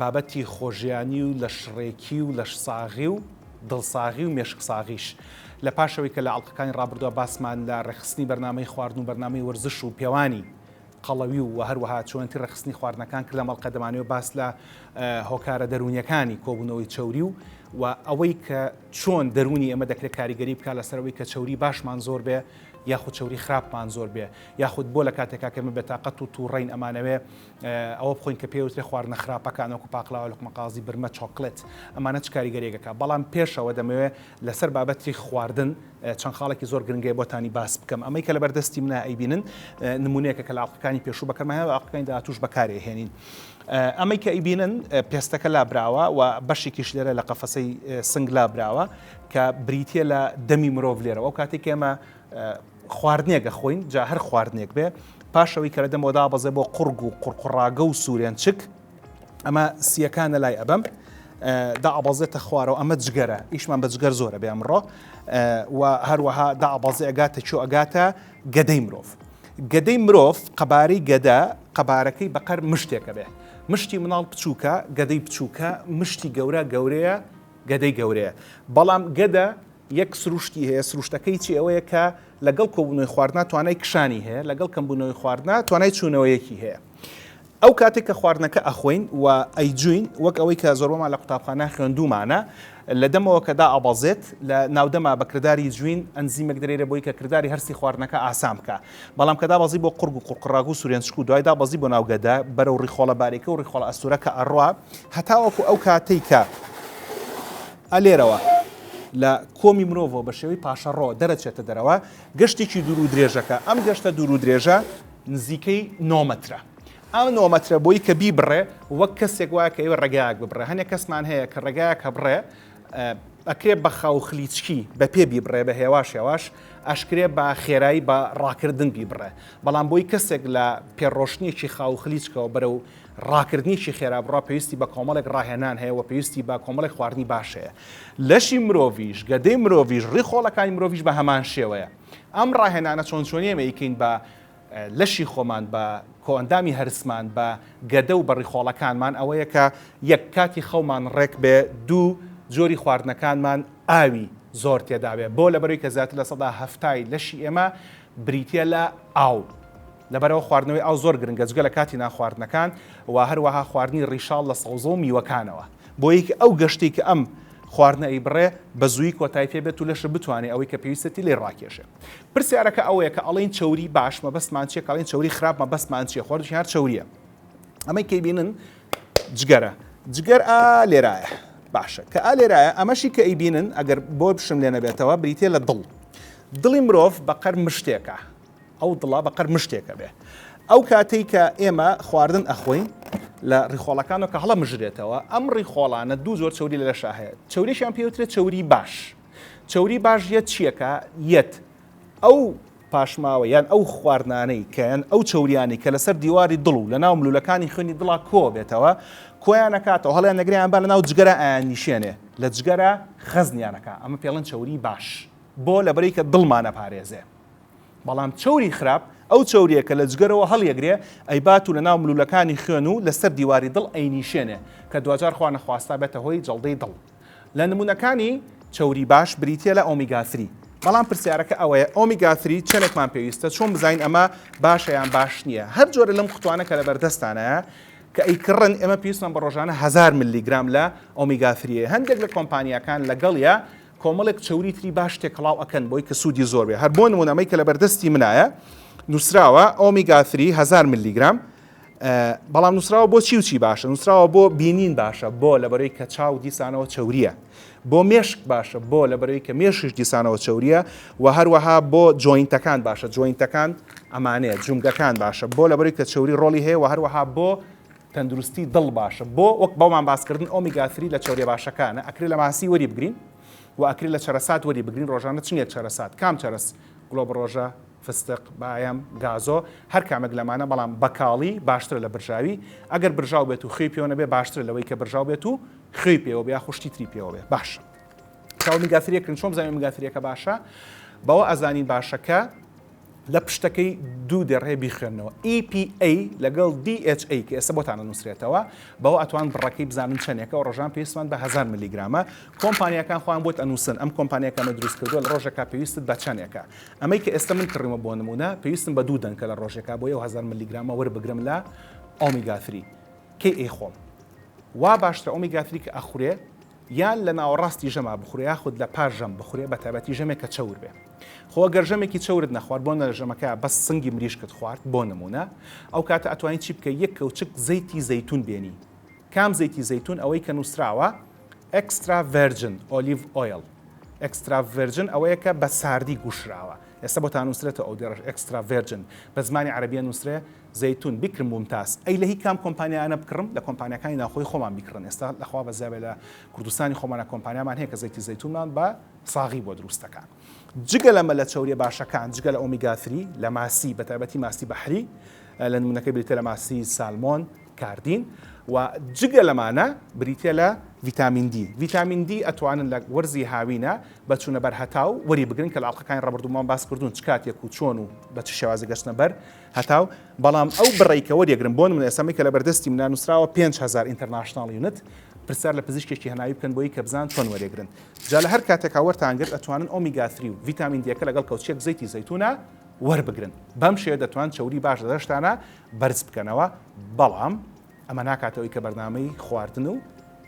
بابەتی خۆژیانی و لەشڕێکی و لەشساغی و دڵساغی و مێشکساغیش لە پاشەوەی کە لە ئەڵقەکانی ڕابردووە باسمان لە ڕێکخستنی بەرنامەی خواردن و بەرنامەی وەرزش و پێوانی قەڵەوی و هەروەها چۆنێتی ڕێکخستنی خواردنەکان کرد لەم ئەڵقە دەمانەوێت باس لە هۆکارە دەروونیەکانی کۆبوونەوەی چەوری و و ئەوەی کە چۆن دەروونی ئێمە دەکرێت کاریگەری بکە لەسەرەوەی کە چەوری باشمان زۆر بێ یاخود چەوری خراپمان زۆر بێ یاخود بۆ لە کاتێکا کەمە بێتاقەت و تووڕین ئەمانەوێ ئەوە بخۆین کە پێی وترێ خواردنە خراپەکان وەکو پاقلاوە لوقمە قازی برمە چۆکلێت ئەمانە چ کاریگەریەک ئەکا بەڵام پێشەوە دەمەوێ لەسەر بابەتی خواردن چەند خاڵێکی زۆر گرنگەی بۆتانی باس بکەم ئەمەی کە لەبەر دەستی منە ئەیبینن نمونەیەکە کە لە ئاڵقەکانی پێشوو بەکەمایە و ئاڵقەکانی داهاتووش بەکارێ هێنین ئەمەی کە ئەیبینن پێستەکە لابراوە و بەشێکیش لێرە لە قەفەسەی سنگ لابراوە کە بریتە لە دەمی مرۆڤ لێرە ئەو کاتێک ئێمە خواردنێک ئەخۆین جا هەر خواردنێک بێ پاش ئەوەی کە لە دەمەوە دابەزێ بۆ قوڕگ و قوڕقوڕاگە و سوورێنچک ئەمە سییەکانە لای ئەبەم دابەزێتە خوارەوە ئەمە جگەرە ئیشمان بە جگەر زۆرە بێ ئەمڕۆ و هەروەها دابەزێ ئەگاتە چۆ ئەگاتە گەدەی مرۆڤ گەدەی مرۆڤ قەبارەی گەدە قەبارەکەی بەقەر مشتێکە بێ مشتی مناڵ بچووکە گەدەی بچووکە مشتی گەورە گەورەیە گەدەی گەورەیە بەڵام گەدە یەک سروشتی هەیە، سروشتەکەی چی ئەوەیە کە لەگەڵ کۆبوونەوەی خواردنا توانای کشانی هەیە، لەگەڵ کەمبوونەوەی خواردنا توانای چوونەوەیەکی هەیە. ئەو کاتێک کە خواردنەکە ئەخۆین و ئەیجووین، وەک ئەوەی کە زۆربەمان لە قوتابخانە خوێندوومانە، لە دەمەوە کە دائەبەزێت، لە ناودەما بە کرداری جووین ئەنزیمێک دەرێرێ بۆی کە کرداری هەرسی خواردنەکە ئاسان بکا. بەڵام کە دابەزی بۆ قوڕگ و قوڕقڕاگ و سورێنچک و دوای دابەزی بۆ ناو گەدە، بەرەو ڕیخۆڵە باریکە و ڕیخۆڵە ئەستوورەکە ئەڕوا، هەتاوەکو ئەو کاتەی کە. ئە لێرەوە لە کۆمی مرۆڤەوە بە شێوەی پاشەڕۆ دەرەچێتە دەرەوە گەشتێکی دوور و درێژەکە ئەم گەشتە دوور و درێژە نزیکەی نۆمەترە ئەم نۆمەترە بۆی کە بیبڕێ وەک کەسێک وایە کە ئێوە ڕێگایەک ببڕێ هەنێک کەسمان هەیە کە ڕێگایە کە بڕێ ئەکرێ بە خاو خلیچکی بە پێ بیبڕێ بە هێواش هێواش ئەشکرێ بە خێرایی بە ڕاکردن بیبڕێ بەڵام بۆی کەسێک لە پێڕۆشتنێکی خاو خلیچکەوە بەرەو ڕاکردنیکی خێرا بڕە پێویستی بە کۆمەڵێک ڕاهێنان هەیە وە پێویستی بە کۆمەڵێک خواردنی باش هەیە لەشی مرۆڤیش گەدەی مرۆڤیش ڕی خۆڵەکانی مرۆڤیش بە هەمان شێوەیە ئەم ڕاهێنانە چۆن چۆنی ئێمە ئیکەین بە لەشی خۆمان بە کۆئەندامی هەرسمان بە گەدە و بە ڕیخۆڵەکانمان ئەوەیە کە یەک کاتی خەومان ڕێک بێ دوو جۆری خواردنەکانمان ئاوی زۆر تێدابێ بۆ لەبەروی کە زیاتر لە سەدا هەفتای لەشی ئێمە بریتە لە ئاو لەبەرئەوە خواردنەوەی ئاو زۆر گرنگە جگە لە کاتی نانخواردنەکان و هەروەها خواردنی ڕیشاڵ لە سەوزە و میوەکانەوە بۆی کە ئەو گەشتەی کە ئەم خواردنە ئەیبڕێ بە زووی کۆتای پێ بێت و لەشت بتوانێ ئەوەی کە پێویستەتی لێی ڕاکێشێ پرسیارەکە ئەوەیە کە ئەڵێن چەوری باش مەبەستمان چیە کەڵین چەوری خراپ مەبەستمان چیە خۆر هەر چەوریە ئەمەی کەی بینن جگەرە جگەر ئا لێرایە باشە کە ئا لێرایە ئەمەشی کە ئەیبینن ئەگەر بۆ بشم لێ نەبێتەوە بریتە لە دڵ دڵی مرۆڤ بەقەر مشتێکە ئەو دڵە بە قەر مشتێکە بێ. ئەو کاتەی کە ئێمە خواردن ئەخۆین لە ڕیخۆڵەکانەوە کە هەڵە مژرێتەوە، ئەم ڕیخۆڵانە دوو جۆر چەوری لە لەشا هەیە. چەوریشیان پێ وترێت چەوری باش. چەوری باش یەت چیەکە؟ یەت ئەو پاشماوە یان ئەو خواردنانەی کە یان ئەو چەوریانەی کە لەسەر دیواری دڵ و لە ناو ملوولەکانی خوێنی دڵا کۆ بێتەوە کۆیان ئەکاتەوە هەڵیان ئەگرێ ئەمبا لە ناو جگەرا ئەیان نیشێنێ لە جگەرا خەزنیان ئەکا ئەمە پێڵێن چەوری باش بۆ لەبەرەی کە دڵمان ئەپارێزێ. بەڵام چەوری خراپ ئەو چەوریە کە لە جگەرەوە هەڵیەگرێ ئەیبات و لە ناو ملولەکانی خوێن و لەسەر دیواری دڵ ئەینیشێنێ کە دواجار خوا نەخواستا بێتە هۆی جەڵدەی دڵ لە نمونەکانی چەوری باش بریتیە لە ئۆمیگا ثری بەڵام پرسیارەکە ئەوەیە ئۆمیگا ثری چەنێکمان پێویستە چۆن بزانین ئەمە باشە یان باش نییە هەر جۆرە لەم قوتوانە کە لە بەردەستانە کە ئەیکڕن ئێمە پێویستمان بە ڕۆژانە هزار ملی گرام لە ئۆمیگا ثریە هەندێک لە کۆمپانیاکان لەگەڵیە کۆمەڵێک چەوری تری باش تێکەڵاو ئەکەن بۆی کە سوودی زۆر بێ هەر بۆ نمونە ئەمەی کە لە بەردەستی منایە نووسراوە ئۆمیگا 3 هزار ملیگرام بەڵام نووسراوە بۆ چی و چی باشە نووسراوە بۆ بینین باشە بۆ لەبەرەی کە چاو دیسانەوە چوریە بۆ مێشک باشە بۆ لەبەرەی کە مێشش دیسانەوە چوریە و هەروەها بۆ جوینتەکان باشە جوینتەکان ئەمانەیە جومگەکان باشە بۆ لەبەرەی کە چوری ڕۆلی هەیە و هەروەها بۆ تەندروستی دڵ باشە بۆ؟ وەک بەومان باس کردن ئۆمیگا ثری لە چەوریە باشەکانە ئەکرێ لە ماسی وەری بگرین وە ئەکرێ لە چەرەسات وەری بگرین ڕۆژانە چنگێک چەرەسات کام چەرەس گڵۆبڕۆژە فستق بایەم گازۆ هەر کامێک لەمانە بەڵام بەکاڵی باشترە لە برژاوی ئەگەر برژاو بێت و خوێی پێوە نەبێ باشترە لەوەی کە برژاو بێت و خوێی پێوە بێ یاخو شتی تری پێوە بێ باشە کە ئۆمیگا ثریەکرین چۆن بزانین ئۆمیگا ثریەکە باشە بەوە ئەزانین باشە کە لە پشتەکەی دوو دەرێ بیخوێنەوە EPA لەگەڵ DHA کە ئێستا بۆتان ئەنووسرێتەوە بەوە ئەتوان بڕەکەی بزانن چەندێکە و ڕۆژان پێویستمان بە هەزار ملیگرامە کۆمپانیاکان خۆیان بۆت ئەنووسن ئەم کۆمپانیا کە ئەمەی دروست کردووە لە ڕۆژێکا پێویستت بە چەندێکە ئەمەی کە ئێستا من کڕیومە بۆ نموونە پێویستم بە دوو دەنکە لە ڕۆژێکا بۆیە و هەزار ملیگرامە وەربگرم لە ئۆمیگا ثری کەی ئەیخۆم وا باشترە ئۆمیگا ثری کە ئەخورێ یان لە ناوەڕاستی ژەما بخورێ یاخود لە پاش ژەم بخورێ بە تایبەتی ژەمێک کە چەور بێ خۆ ئەگەر ژەمێکی چەورت نەخوارد بۆ نە ژەمەکە بەس سنگی مریشکت خوارد بۆ نمونە ئەو کاتە ئەتوانی چی بکەی یەک کەوچک زەیتی زەیتون بێنی کام زەیتی زەیتون ئەوەی کە نوسراوە ئێکسترا ڤێرجن ئۆلیڤ ئۆیڵ ئێکسترا ڤێرجن ئەوەیە کە بە ساردی گوشراوە ئێستا بۆتان نوسرێتەوە ئەو دێڕەش ئێکسترا ڤێرجن بە زمانی عەرەبیە نوسرێ زەیتون بکرم مومتاز. ئەی لە هی کام کۆمپانیایانە بکڕم؟ لە کۆمپانیاکانی ناوخۆی خۆمان بیکڕن ئێستا لە خوا بەزیابێ لە کوردستانی خۆمانا کۆمپانیامان هەیە کە زەیتی زەیتونمان بە ساغی بۆ دروست دەکا جگە لەمە لە چەوریە باشەکان جگە لە ئۆمیگا ثری لە ماسی بە تایبەتی ماسی بەحری لە نمونەکەی بریتە لە ماسی سالمۆن کاردین و جگە لەمانە بریتە لە ڤیتامین دی ڤیتامین دی ئەتوانن لە وەرزی هاوینە بە چوونە بەر هەتاو وەری بگرن کە لە ئەڵقەکانی ڕابردوومان باس کردوون چ کاتێک و چۆن و بە چ شێوازی گەشتنە بەر هەتاو، بەڵام ئەو بڕەی کە وەریەگرم، بۆ نموونە ئێستا ئەمەی کە لەبەر دەستی منە نووسراوە پێنج هەزار ئینتەرناشناڵ یونت، پرسیار لە پزیشکێکی هەناوی بکەن بۆ ی کە بزان چۆن وەریەگرن. جا لە هەر کاتێکا وەرتان گرت ئەتوانن ئۆمیگا ثری و ڤیتامین دیەکە لەگەڵ کەوچکێک زەیتی زەیتوونە وەربگرن. بەم شێوەیە دەتوان چەوری باش لە لەشتانا بەرز بکەنەوە. بەڵام ئەمە ناکاتە هۆی کە بەرنامەی خواردن و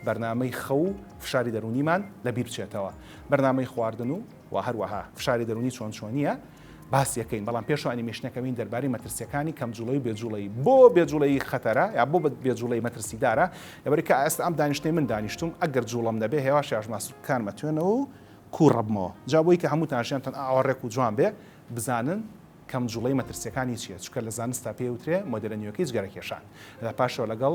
بەرنامەی خەو و فشاری دەروونیمان لە بیر بچێتەوە. بەرنامەی خواردن و وە هەروەها فشاری دەروونی چۆن چۆنییە باسیەکەین بەڵام پێشەوە ئەنیمێشنەکەوین دەربارەی مەترسیەکانی کەم جوڵەی و بێجوڵەیی بۆ بێجوڵەیی خەتەرە یا بۆ بێجوڵەی مەترسیدارە لەبەر کە ئێستا ئەم دانیشتەی من دانیشتوم ئەگەر جوڵەم نەبێ هێواش یاژما سوکەکانمە توێنەوە و کوو ڕەبمەوە جا بۆی کە هەمووتان ژیانتان ئاوا ڕێک و جوان بێ بزانن کەم جوڵەی مەترسیەکانی چیە چکە لە زانستا پێی وترێ مۆدێلە نوێکەی جگەرەکێشان لە پاشەوە لەگەڵ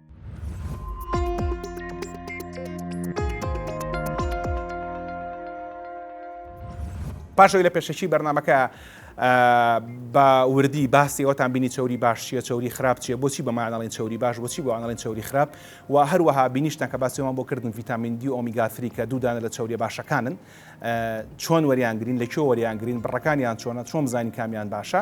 پاشەوەی لە پێشەکی بەرنمەکە بە وردی باسی ئەوتان بینی چوری باش چیە چوری خراپ چیە بۆچی بەمانەڵین چوری باش بۆچی بۆ ئەنڵین چوری خراپ و هەروەها بینیشتان کە باسیەوەمان بۆ کردن ڤیتامین دی ئۆمیگاتری کە دوودانە لە چوریە باشەکانن چۆن وەریانگرین لە کێ وەریانگرین بڕەکانیان چۆنە چۆن بزانین کامیان باشە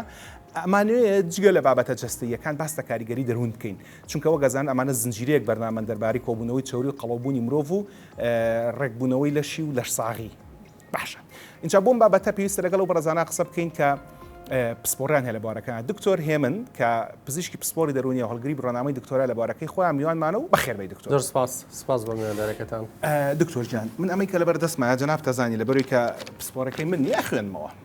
ئەمانوێ جگە لە بابەتە جستەیەکان باستە کاریگەری دەروون بکەین چونکە وەک ئەزانن ئەمانە زنجیرەیەک بەرنامەن دەربارەی کۆبوونەوەی چەوری و قەڵەوبوونی مرۆڤ و ڕێکبوونەوەی لەشی و لەشساغی باشە ئینجا بۆم بابەتە پێویستە لەگەڵ و بەڕزانە قسە بکەین کە پسپۆریان هەیە لە بارەکان دکتۆر هێمن کە پزیشکی پسپۆری دەرونی هەڵگری بڕنامەی دکتۆرا لە بارەکەی خۆیان میوانمانە و بەخێربەی دکتۆر زۆر سپاس سپاس بۆ میواندارەکەتان دکتۆر جان من ئەمەی کە لەبەر دەستمە جناب تەزانی لەبەروی کە پسپۆرەکەی من نیە خوێنمەوە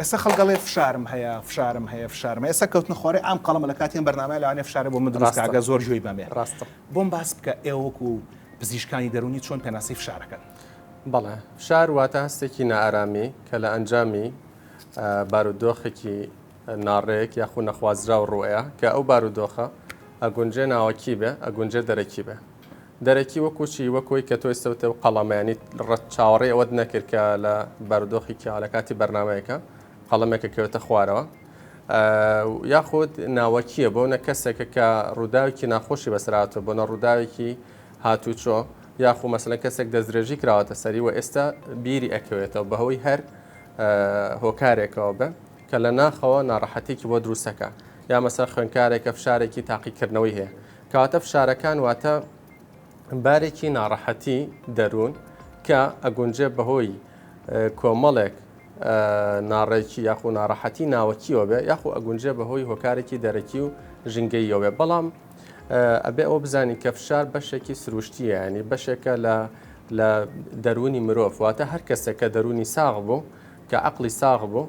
ئێستا خەڵک ئەڵێ فشارم هەیە، فشارم هەیە، فشارم هەیە، ئێستا کەوتنە خوارێ عام قەڵەمە لە کاتی ئەم بەرنامەیە لەوانەیە فشارێ بۆ من دروست کاگە زۆر گوێی بەمێ. ڕاستە. بۆم باس بکە ئێوە وەکو پزیشکانی دەروونی چۆن پێناسەی فشارەکەن؟ بەڵێ. فشار واتە هەستێکی نائارامی کە لە ئەنجامی بارودۆخێکی ناڕێک یاخو نەخوازراو ڕووەیە کە ئەو بارودۆخە ئەگونجێ ناوەکی بێ، ئەگونجێ دەرەکی بێ. دەرەکی وەکو چی؟ وەک وەی کە تۆ ئێستە وتت قەڵەمە یانی ڕەت چاوەڕێی ئەوەت نەکرد کە لە بارودۆخی کیا لە کاتی بەرنامەیەکە قەڵەمێکە کەوێتە خوارەوە یاخود ناوەکیە بۆ نە کەسێکە کە ڕووداوێکی ناخۆشی بەسراتەوە بۆ نە ڕووداوێکی هاتوچۆ یاخو مەسلە کەسێک دەستدرێژی کراوەتە سەری و ئێستا بیری ئەکەوێتەوە بەهۆی هەر هۆکارێکەوە بە کە لە ناخەوە ناڕەحەتێکی بۆ دروستەکە یا مەسەر خوێنکارێکە فشارێکی تاقیکردنەوەی هەیە کەواتە فشارەکان واتە بارێکی ناڕەحەتی دەروون کە ئەگونجێ بەهۆی کۆمەڵێک ناڕێکی یاخ و ناڕەحەتی ناوەکیەوە بێ یاخ و ئەگونجێ بەهۆی هۆکارێکی دەرەکی و ژنگەیەوێ بەڵام ئەبێ ئەوە بزانین کە فشار بەشێکی سروشتیە ینی بەشێکە لە لە دەروونی مرۆڤ واتە هەر کەسێک کە دەروونی ساغ بوو کە عقلی ساغ بوو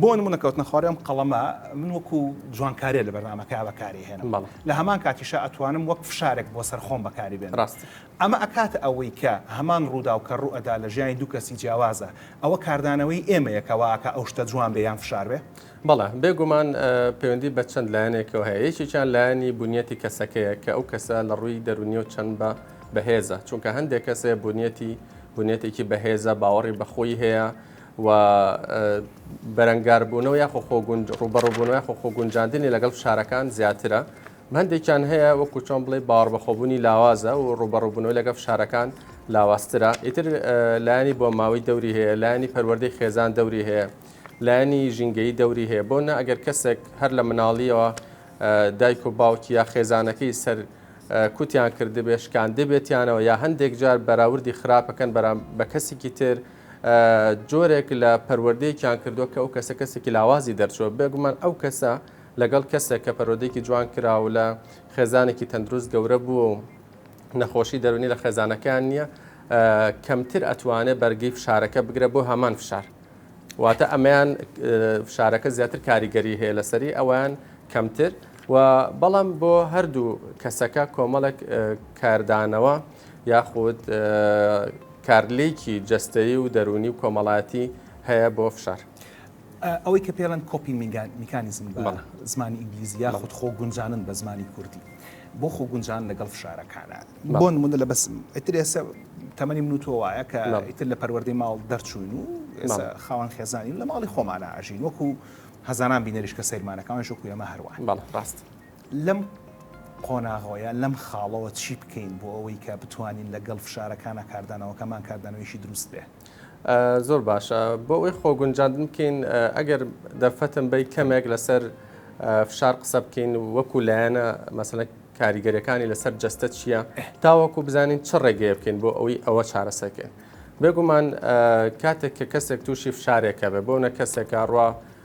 بۆ نموونە کەوتنە خواری ئەم قەڵەمە من وەکو جوانکاریە لە بەرنامەکە بەکاری هێنم لە هەمان کاتیشە ئەتوانم وەک فشارێک بۆ سەر خۆم بەکاری بێن ڕاست ئەمە ئەکات ئەوەی کە هەمان ڕووداو کە ڕوو ئەدا لە ژیانی دوو کەسی جیاوازە ئەوە کاردانەوەی ئێمەیە کەواکە ئەو شتە جوان بێ یان فشار بێ بەڵێ بێگومان پەیوەندی بە چەند لایەنێکەوە هەیە یەکێکیان لایەنی بنیەتی کەسەکەیە کە ئەو کەسە لە ڕووی دەرونی و چەند بە بەهێزە چونکە هەندێک کەسێ بنیەتی بنیەتێکی بەهێزە باوەڕی بەخۆی هەیە و بەرەنگاربوونەوە یاخۆ خۆ ڕووبەڕووبوونەوە یاخۆ خۆ گونجاندنی لەگەڵ فشارەکان زیاترە هەندێکیان هەیە وەکو چۆن بڵێ باوەڕبەخۆبوونی لاوازە و ڕووبەڕووبوونەوە لەگەڵ فشارەکان لاوازترە ئیتر لایانی بۆ ماوەی دەوری هەیە لایانی پەروەردەی خێزان دەوری هەیە لایانی ژینگەی دەوری هەیە بۆ نە ئەگەر کەسێک هەر لە مناڵیەوە دایک و باوکی یا خێزانەکەی سەر کوتیان کردبێ شکان دەبێتیانەوە یا هەندێک جار بەراوردی خراپەکەن بە کەسێکی تر جۆرێک لە پەروەردەیەکیان کردووە کە ئەو کەسە کەسێکی لاوازی دەرچووە، بێگومان ئەو کەسە لەگەڵ کەسێک کە پەروەردەیەکی جوان کرا و لە خێزانێکی تەندروست گەورە بووە و نەخۆشی دەروونی لە خێزانەکەیان نییە، کەمتر ئەتوانێت بەرگەی فشارەکە بگرێت بۆ هەمان فشار. واتە ئەمەیان فشارەکە زیاتر کاریگەری هەیە لەسەری، ئەویان کەمتر و بەڵام بۆ هەردوو کەسەکە کۆمەڵێک کاردانەوە، یاخود کارلێکی جەستەیی و دەروونی و کۆمەڵایەتی هەیە بۆ فشار. ئەوەی کە پێڵێن کۆپی میکانیزم بە زمانی ئینگلیزی یاخود خۆ گونجانن بە زمانی کوردی بۆ خۆ گونجان لەگەڵ فشارەکانە بۆ نمونە لە بەس ئیتر ئێستا تەمەنی من و تۆ وایە کە ئیتر لە پەروەردەی ماڵ دەرچوین و خاوەن خێزانین لە ماڵی خۆمانە ئاژین وەکو هەزاران بینەریش کە سەیرمانەکەوان شکو ئێمە هەروان بەڵ ڕاست. لەم قۆناغەوەیە لەم خاڵەوە چی بکەین بۆ ئەوەی کە بتوانین لە گەڵ فشارەکانە کاردانەوەکەمان کاردانەوەیەکی دروست بێ؟ زۆر باشە بۆ ئەوەی خۆ گونجاندن بکەین ئەگەر دەرفەتم بەی کەمێک لەسەر فشار قسە بکەین وەکو لایەنە مەسەنە کاریگەرەکانی لەسەر جەستە چییە تاوەکو بزانین چ ڕێگەیە بکەین بۆ ئەوەی ئەوە چارەسەکەین بێگومان کاتێک کە کەسێک تووشی فشارێکە بێ بۆ نە کەسێکە ڕوا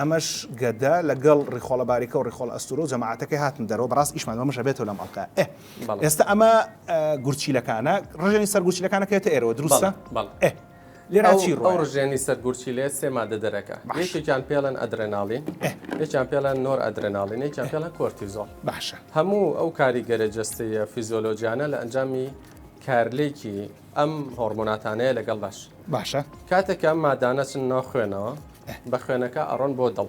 ئەمەش گەدە لەگەڵ ڕیخۆڵە باریکە و ڕیخۆڵە ئەستورۆ جەماعەتەکەی هاتن دەرەوە بەڕاست ئیشمان بەمە شەبێتەوە لەم ئەڵقە ئێ بەڵێ. ئێستا ئەمە آه، گورچیلەکانە ڕژێنی سەر گورچیلەکانەکەێتە ئێرەوە دروستە بەڵێ، بەڵێ. ئێ لێرا چی ئەو ئەو ڕۆیە ڕژێنی سەر گورچیلێ سێ مادە دەرەکە باش. یەکێکیان پێڵێن ئەدرێناڵین ئێ. یەکیان پێڵێن نۆر ئەدرێناڵین یەکیان پێڵێن کۆرتیزۆڵ باشە هەموو ئەو کاریگەرە جەستەیە فیزیۆلۆجیانە لە ئەنجامی کارلێکی ئەم هۆڕمۆناتانەیە لەگەڵ لەش. باشە. کاتێک کە ئەم مادانە چن ناو خوێنەوە بە خوێنەکە ئەڕۆن بۆ دڵ.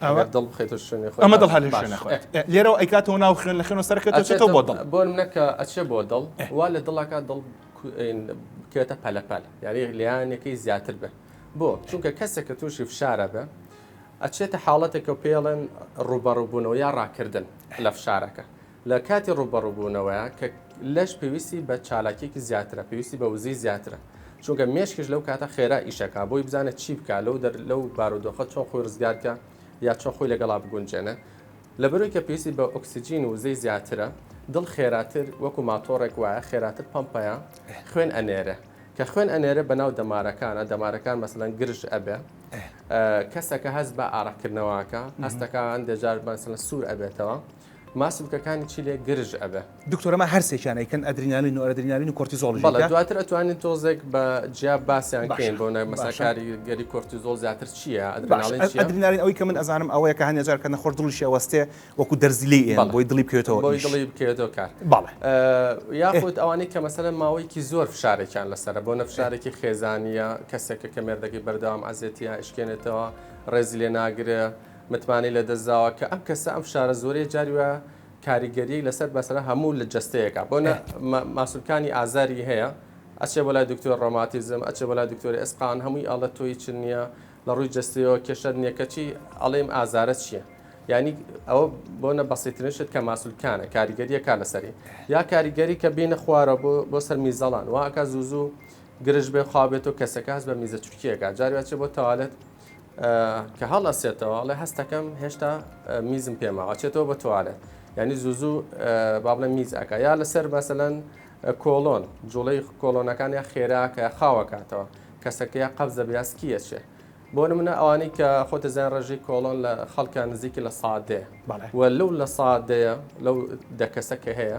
ئەوە دڵ بخێتە شوێنێ خۆی ئەمە دڵ هەلێ شوێنە خۆی. لێرەوە ئەیکاتەوە ناو خوێن لە خوێنەوە سەرەکە ئەچێتەوە بۆ دڵ. بۆ منە کە ئەچێ بۆ دڵ وا لە دڵەکە دڵ بکرێتە پەلەپەل یاری لیانەکەی زیاتر بێ بۆ چونکە کەسێک کە تووشی فشارە بێ ئەچێتە حاڵەتێکە پێڵێن ڕوبەڕووبوونەوە یا ڕاکردن لە فشارەکە لە کاتی ڕووبەڕووبوونەوەیە کە لەش پێویستی بە چالاکیەکی زیاترە پێویستی بە وزەی زیاترە چونکە مێشکش لەو کاتە خێرا ئیشەکە بۆی بزانە چی بکە لەو دەر لەو بارودۆخە چۆن خۆی ڕزگارکە یا چۆن خۆی لەگەڵا بگونجێنە لەبەرەوەی کە پێویستی بە ئۆکسجین و وزەی زیاترە دڵ خێراتر وەکو ماتۆڕێک وایە خێراتر پەمپەیە خوێن ئەنێرێ کە خوێن ئەنێرێ بەناو دەمارەکانە دەمارەکان مەسەلەن گرژ ئەبێ کەسەکە هەست بە ئارەقکردنەوەکە هەستەکان دەجار بەسەلە سوور ئەبێتەوە ماسولکەکانی چیلێک گرژ ئەبێ. دکتۆرە ما هەرسێکیان ئەیکەن ئەدرینالین و ئەرەدرینالین و کۆرتیزۆڵیش ئەیکە؟ بەڵێ دواتر ئەتوانین تۆزێک بە جیا باسیان کەین بۆ نە مەسا کاریگەری کۆرتیزۆڵ زیاتر چیە ئەدرینالین چیە؟ ئەدرینالین ئەوەی کە من ئەزانم ئەوەیە کە هەندێ جار کە نەخۆش دڵیشی ئەوەستێ وەکو دەرزی لێی ئێن بۆی دڵی بکەوێتەوە ئیش بۆی دڵی بکەوێتەوە کار بەڵێ یاخود ئەوانەی کە مەسەلەن ماوەیەکی زۆر فشارێکیان لەسەرە بۆ نە فشارێکی خێزانیە کەسێکە کە مێردەکەی بەردەوام عەزێتی یا ئەشکێنێتەوە ڕێزی لێ ناگرێ متمانەی لەدەست داوە کە ئەم کەسە ئەم فشارە زۆرەیە جاری وایە کاریگەریی لەسەر مەسەلەن هەموو لە جەستەیەکە بۆ نە ماسولکانی ئازاری هەیە ئەچێ بۆ لای دکتۆر ڕۆماتیزم ئەچێ بۆ لای دکتۆری ئەسقان هەمووی ئەڵە تۆ هیچ نییە لە ڕووی جەستەیەوە کێشەت نییە کەچی ئەڵێم ئازارە چییە یعنی ئەوە بۆ نە بەسیترین شت کە ماسولکانە کاریگەریە کا لەسەری یا کاریگەری کە بینە خوارە بۆ بۆ سەر میزەڵان واکە زوو زوو گرژ بێ خوا بێت و کەسەکە هەست بە میزە چرکیەکە جاروێت چێ بۆ تەوالێت کە هەڵ ئەسێتەوە ئەڵێ هەستەکەم هێشتا میزم پێما ئەچێتەوە بە توالێت ینی زوزوو بابلە میز ئەکە یا لەسەر مەسەەن کۆلۆن جوڵەی کۆلۆنەکان یا خێراکە خاوەکاتەوە کەسەکە یا قەبز دەبێ یاسکیەچێ بۆ منە ئەوانی کە خۆتە زیان ڕێژەی کۆڵۆن لە خەڵکان نزیکی لە سادێ و لەو لە سادەیە لەو دەکەسە کە هەیە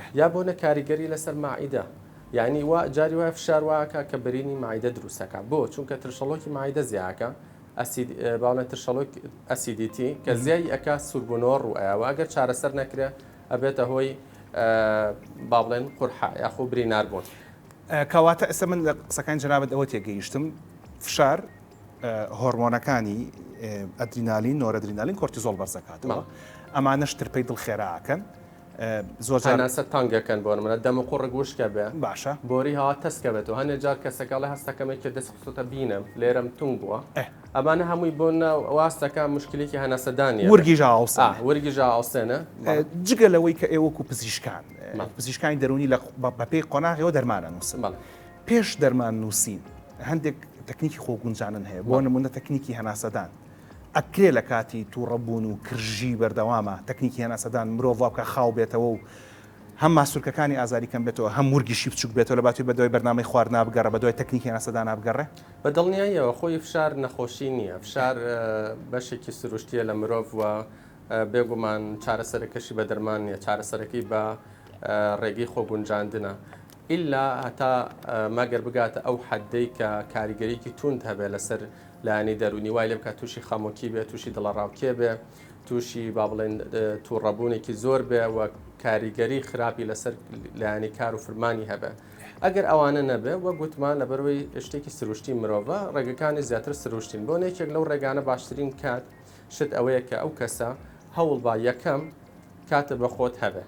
احیا بۆنە کاریگەری لەسەر مەعیدە یانی وا جاری وایە فشار وایەکا کە برینی مەعیدە دروستەکا بۆ چونکە ترشەڵۆکی مەعیدە زیاکە ئەسید باڵێن ترشەڵۆک ئەسیدیتی کە زیای ئەکا سوربونەوە ڕوو ئەیا و ئەگەر چارەسەر نەکرێ ئەبێتە هۆی با بڵێن قورحە یاخۆ برینار بوون کەواتە ئێستا من لە قسەکانی جەنابت ئەوە تێگەیشتم فشار هۆرمۆنەکانی ئەدرینالین نۆرەدرینالین کۆرتیزۆڵ بەرزەکاتەوە ئەمانەش ترپەی دڵ خێراکەن زۆر جار هەناسەت تەنگ ئەکەن بۆ نمونە دەموقوڕگ وشک ئەبێ باشە بۆری هەوا تەسک ئەبێت و هەندێک جار کەسەکە ئەڵێ هەست ئەکەم یەکێ دەستی خستۆتە بینم لێرەم تونگ بووە ئەمانە هەمووی بۆ واز دەکات مشکلێکی هەناسەدانی ورگی ژاوسا ورگی ژاوسێنە جگە لەوەی کە ئێوەکو پزیشکان پزیشکانی دەرونی لە بەپێی قۆناغەوە دەرمانە نووسن پێش دەرمان نووسین هەندێک تەکنیکی خۆگونجانن هەیە بۆ نمونە تەکنیکی هەناسەدان ئەکرێ لە کاتی تووڕە بوون و کرژی بەردەوامە، تەکنیکی هەناسەدان مرۆڤ وا بکا خاو بێتەوە و هەم ماسولکەکانی ئازاری کەم بێتەوە هەم ورگیشی بچووک بێتەوە لە باتووی بەدوای بەرنامەی خواردنا بگەڕێ بەدوای تەکنیکی هەناسەدانا بگەڕێ. بە دڵنیاییەوە خۆی فشار نەخۆشی نییە، فشار بەشێکی سروشتییە لە مرۆڤ و بێگومان چارەسەرەکەشی بە دەرمان نییە، چارەسەرەکەی بە ڕێگەی خۆگونجاندنە. ئیلا هەتا مەگەر بگاتە ئەو حەددەی کە کاریگەرییەکی تووند هەبێ لەسەر لایەنی دەروونی، وای لێ بکا تووشی خەمۆکی بێ، تووشی دڵەڕاوکێ بێ، تووشی با بڵێین تووڕەبوونێکی زۆر بێ و کاریگەریی خراپی لەسەر لایەنی کار و فرمانی هەبێ. ئەگەر ئەوانە نەبێ، وەک وتمان لەبەر وەی شتێکی سرووشتی مرۆڤە، ڕێگەکانی زیاتر سرووشتین. بۆن یەکێک لەو ڕێگانە باشترین کات شت ئەوەیە کە ئەو کەسە هەوڵ با یەکەم کاتە بە خۆت هەبێ.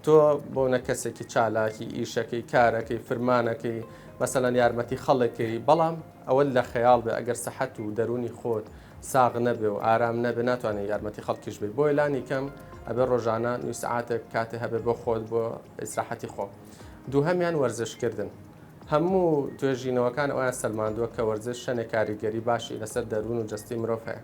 تۆ بۆنە کەسێکی چالاکی ئیشەکەی کارەکەی فرمانەکەی مەسەەن یارمەتی خەڵێکەکەی بەڵام ئەوە لە خەیاڵ بێ ئەگەر سەحەت و دەرونی خۆت ساغ نەبێ و ئارام نەبێ ناتوانێت یارمەتی خەڵکیش بێ بۆی لانی کەم ئەبێ ڕۆژانە نووسعاتێک کاتێ هەبێ بۆ خۆت بۆ ئیسراحەتی خۆ دووهەمیان وەرزشکردن هەموو توێژینەوەکان ئەویان سەلماندووە کە وەرزش شەنێ کاریگەری باشی لەسەر دەروون و جستی مرۆڤ هەیە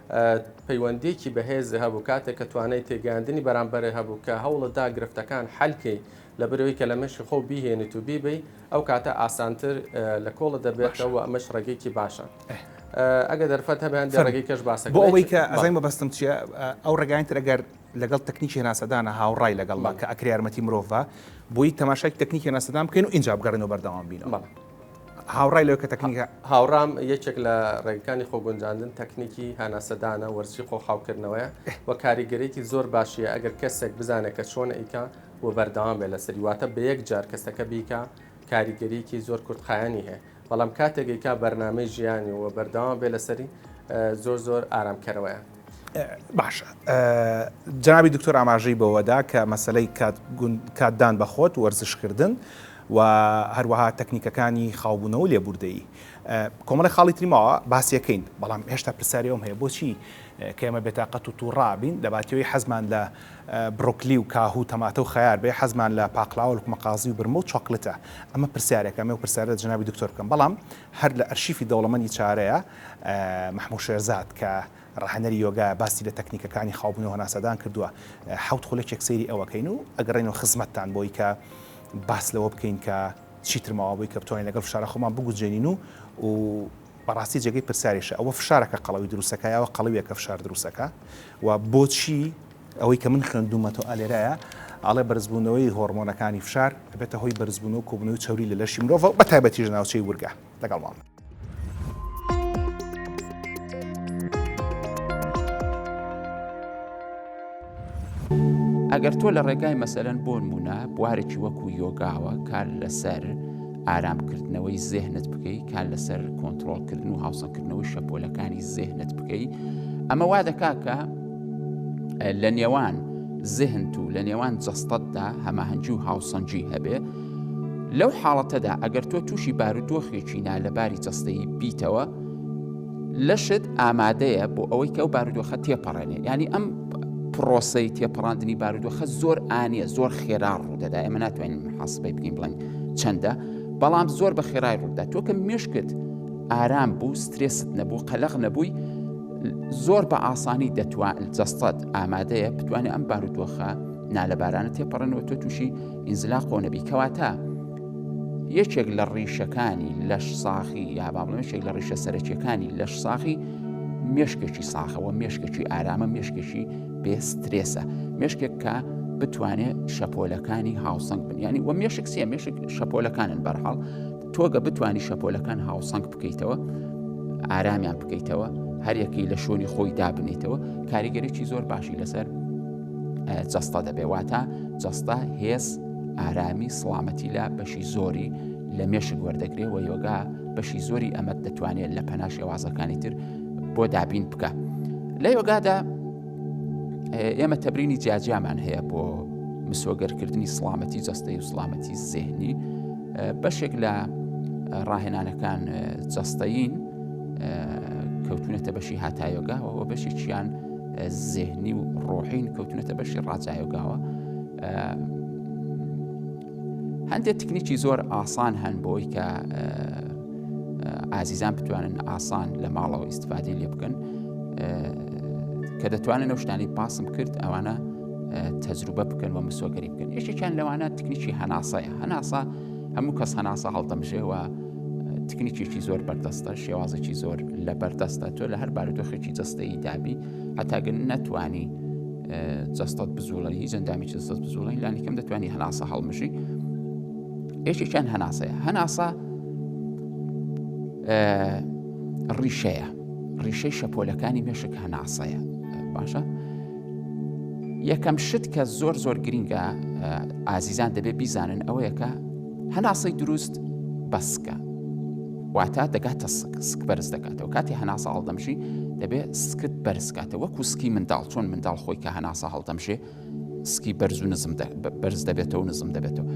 پەیوەندیەکی بەهێز هەبوو کاتێک کە توانای تێگەیاندنی بەرامبەر هەبوو کە هەوڵت دا گرفتەکان حەل کەی لەبەرئەوەی کە لە مێشکی خۆو بیهێنیت و بیبەی ئەو کاتە ئاسانتر لە کۆڵت دەبێتەوە و ئەمەش ڕێگەیەکی باشە ئەگەر دەرفەت هەبێ هەندێ ڕێگەی کەش باسە کەین. بۆ ئەوەی کە ئەزانی مەبەستم چییە ئەو ڕێگایانی تر ئەگەر لەگەڵ تەکنیکی هەناسەدانە هاوڕای لەگەڵ بە کە ئەکرێ یارمەتی مرۆڤ بە بۆی تەماشای تەکنیکی هەناسەدان بکەین و ئینجا بگەڕێنەوە بەردەوام بینەوە. هاوڕای لەوەی کە تەکنیکە هاوڕام یەکێک لە ڕێگەکانی خۆگونجاندن تەکنیکی هاناسەدانە وەرزشی خۆخاوکردنەوەیە و کاریگەرێکی زۆر باشیە ئەگەر کەسێک بزانێت کە چۆن ئەیکا و بەردەوام بێ لەسەری واتە بە یەک جار کەسەکە بیکە کاریگەریکی زۆر کورتخایەنی هەیە بەڵام کاتێکیکا بەرنمەی ژیانی و بەردەوام بێ لەسەری زۆر زۆر ئارامکەرەوەیە باشە جەنابی دکتۆر ئاماژەی بەوەدا کە مەسەلەی کاتدان بە خۆت، وەرزشکردن و هەروەها تەکنیکەکانی خاوبوونەوە و لێبووردەیی کۆمەڵێک خاڵی تری ماوە باسیەکەین، بەڵام هێشتا پرسیاری ئەوم هەیە بۆچی کە ئێمە بێتاقەت و تووڕا بین لە باتیۆی حەزمان لە بڕۆکلی و کاهوو تەماتە و خەیار بێ حەزمان لە پاقلاوە لوقمەقازی و برمە و چۆکلتە ئەمە پرسیارێکە ئەمێ و پرسیارە جەنابی دکتۆر بکەم بەڵام هەر لە ئەرشیفی دەوڵەمەندی چارەیە مەحموود شێرزاد کە ڕاهێنەری یۆگایە باسی لە تەکنیکەکانی خاوبوون و هەناسەدان کردووە، حەوت خولەکێک سەیری ئەوەکەین و ئەگەڕێینەوە خزمەتتان بۆی کە باس لەوە بکەین کە چیتر ماوە بۆی کە بتوانین لەگەڵ فشارە خۆمان بگونجێنین و بەڕاستی جێگەی پرسیاریشە ئەوە فشارەکە قەڵەوی دروستەکە یاوە قەڵەویەکە فشار دروستەکە و بۆچی ئەوەی کە من خوێندومەتەوە لێرایە ئاڵێ بەرزبوونەوەی هۆرمۆنەکانی فشار ئەبێتە هۆی بەرزبوون و کۆبوونەوەی چەوری لە لەشی مرۆڤ بە تایبەتیش ناوچەی ورگە لەگەڵ ماڵ ئەگەر تۆ لە ڕێگای مەسەرەن بۆن بوونە بوارێکی وەکو یۆگاوە کار لەسەر ئارامکردنەوەی زێهنت بکەیت کار لەسەر کۆنتترۆلکردن و هاوسەکردنەوەی شەپۆلەکانی زێهنت بکەیت ئەمە وا دەکاکە لە نێوان زهنت و لە نێوان جەستەتدا هەماهەنگی و هاوسەنگی هەبێ لەو حاڵەتەدا ئەگەر تۆ تووشی بارودۆخێکی نالەباری جەستەیی بیتەوە لەشت ئامادەیە بۆ ئەوەی کە ئەو بارودۆخە تێپەڕێنێ ینی ئەم پرۆسی تێپەڕاندنی بارودۆخە زۆر ئاە زۆر خێرا ڕوودەدا ئێمە ناتوانین حاسبەی بگەین بڵێن چەندە بەڵام زۆر بە خێرای ڕوودا تۆ کە مشکت ئارام بوو سترێست نەبوو قەلق نەبووی زۆر بە ئاسانی دەتوان جەستەت ئامادەیە بتوانێت ئەم بارودۆخە نالەبارانە تێپەڕێنەوە تۆ تووشی ئینزلاق و نەبی کەواتە یەکێک لە ڕیشەکانی لەش ساخی یا بابڵێکێک لە ڕیشە سەرەکیەکانی لەش ساخی مێشکێکی ساخەوە مێشکێکی ئارامە مێشکێکی بێسترێسە مێشکێک کە بتوانێت شەپۆلەکانی هاوسنگ بن ینی وە مێشک سیە مێشک شەپۆلەکانن بەرحاڵ تۆگە بتانی شەپۆلەکان هاوسنگ بکەیتەوە ئارامیان بکەیتەوە هەریەکی لە شوێنی خۆی دابنیتەوە کاریگەرێکی زۆر باشی لەسەر جەستە دەبێ واتە جەستە هێز ئارامی سڵامەتی لە بەشی زۆری لە مێشک وەردەگرێ و یۆگا بەشی زۆری ئەمەد دەتوانێت لە پەنا شێوازەکانی تر بۆ دابین بکە لە یۆگادا ئێمە تەبرینی جیاجیامان هەیە بۆ مسۆگەرکردنی سڵامەتی جەستەی و سڵامەتی زێنی بەشێک لە ڕاهێنانەکان جەستەین کەوتونەتە بەشی هاتایۆگا و بەشێکیان زهنی و ڕۆحین کەوتونەتە بەشی ڕاجایۆگاوە هەندێک تکنیکی زۆر ئاسان هەن بۆی کە ئازیزان بتوانن ئاسان لە ماڵەوە ئیسفادی لێ بکەن کە دەتوانن ئەو شتانی پاسم کرد ئەوانە تەجروبە بکەن و مسۆگەری بکەن یشتێکیان لەوانە تکنیکی هەناسەیە هەناسە هەموو کەس هەناسە هەڵدەمژێەوە تکنیکێکی زۆر بەردەستە شێوازێکی زۆر لە بەردەستە تۆ لە هەر بارودۆخێکی جستەی دابی هەتاگەن نەتوانی جستت بزوڵە هی جەندامی جستت بزوڵین لانیکەم دەتوانانی هەناسە هەڵمژی یەکێکیان هەناسەیە هەناسە ڕیشەیە ڕیشەی شەپۆلەکانی مێشک هەناسەیە باشە یەکەم شت کە زۆر زۆر گرینگە ئازیزان دەبێت بیزانن ئەوەیەکە هەناسەی دروست بەسکە واتە دەگاتە سک سک بەرز دەکاتەوە کاتی هەناسە هەڵدەمژی دەبێت سکت بەرزکاتە وەکو سکی منداڵ چۆن منداڵ خۆی کە هەناسە هەڵدەمژێ سکی بەرز و نزم بەرز دەبێتەوە نزم دەبێتەوە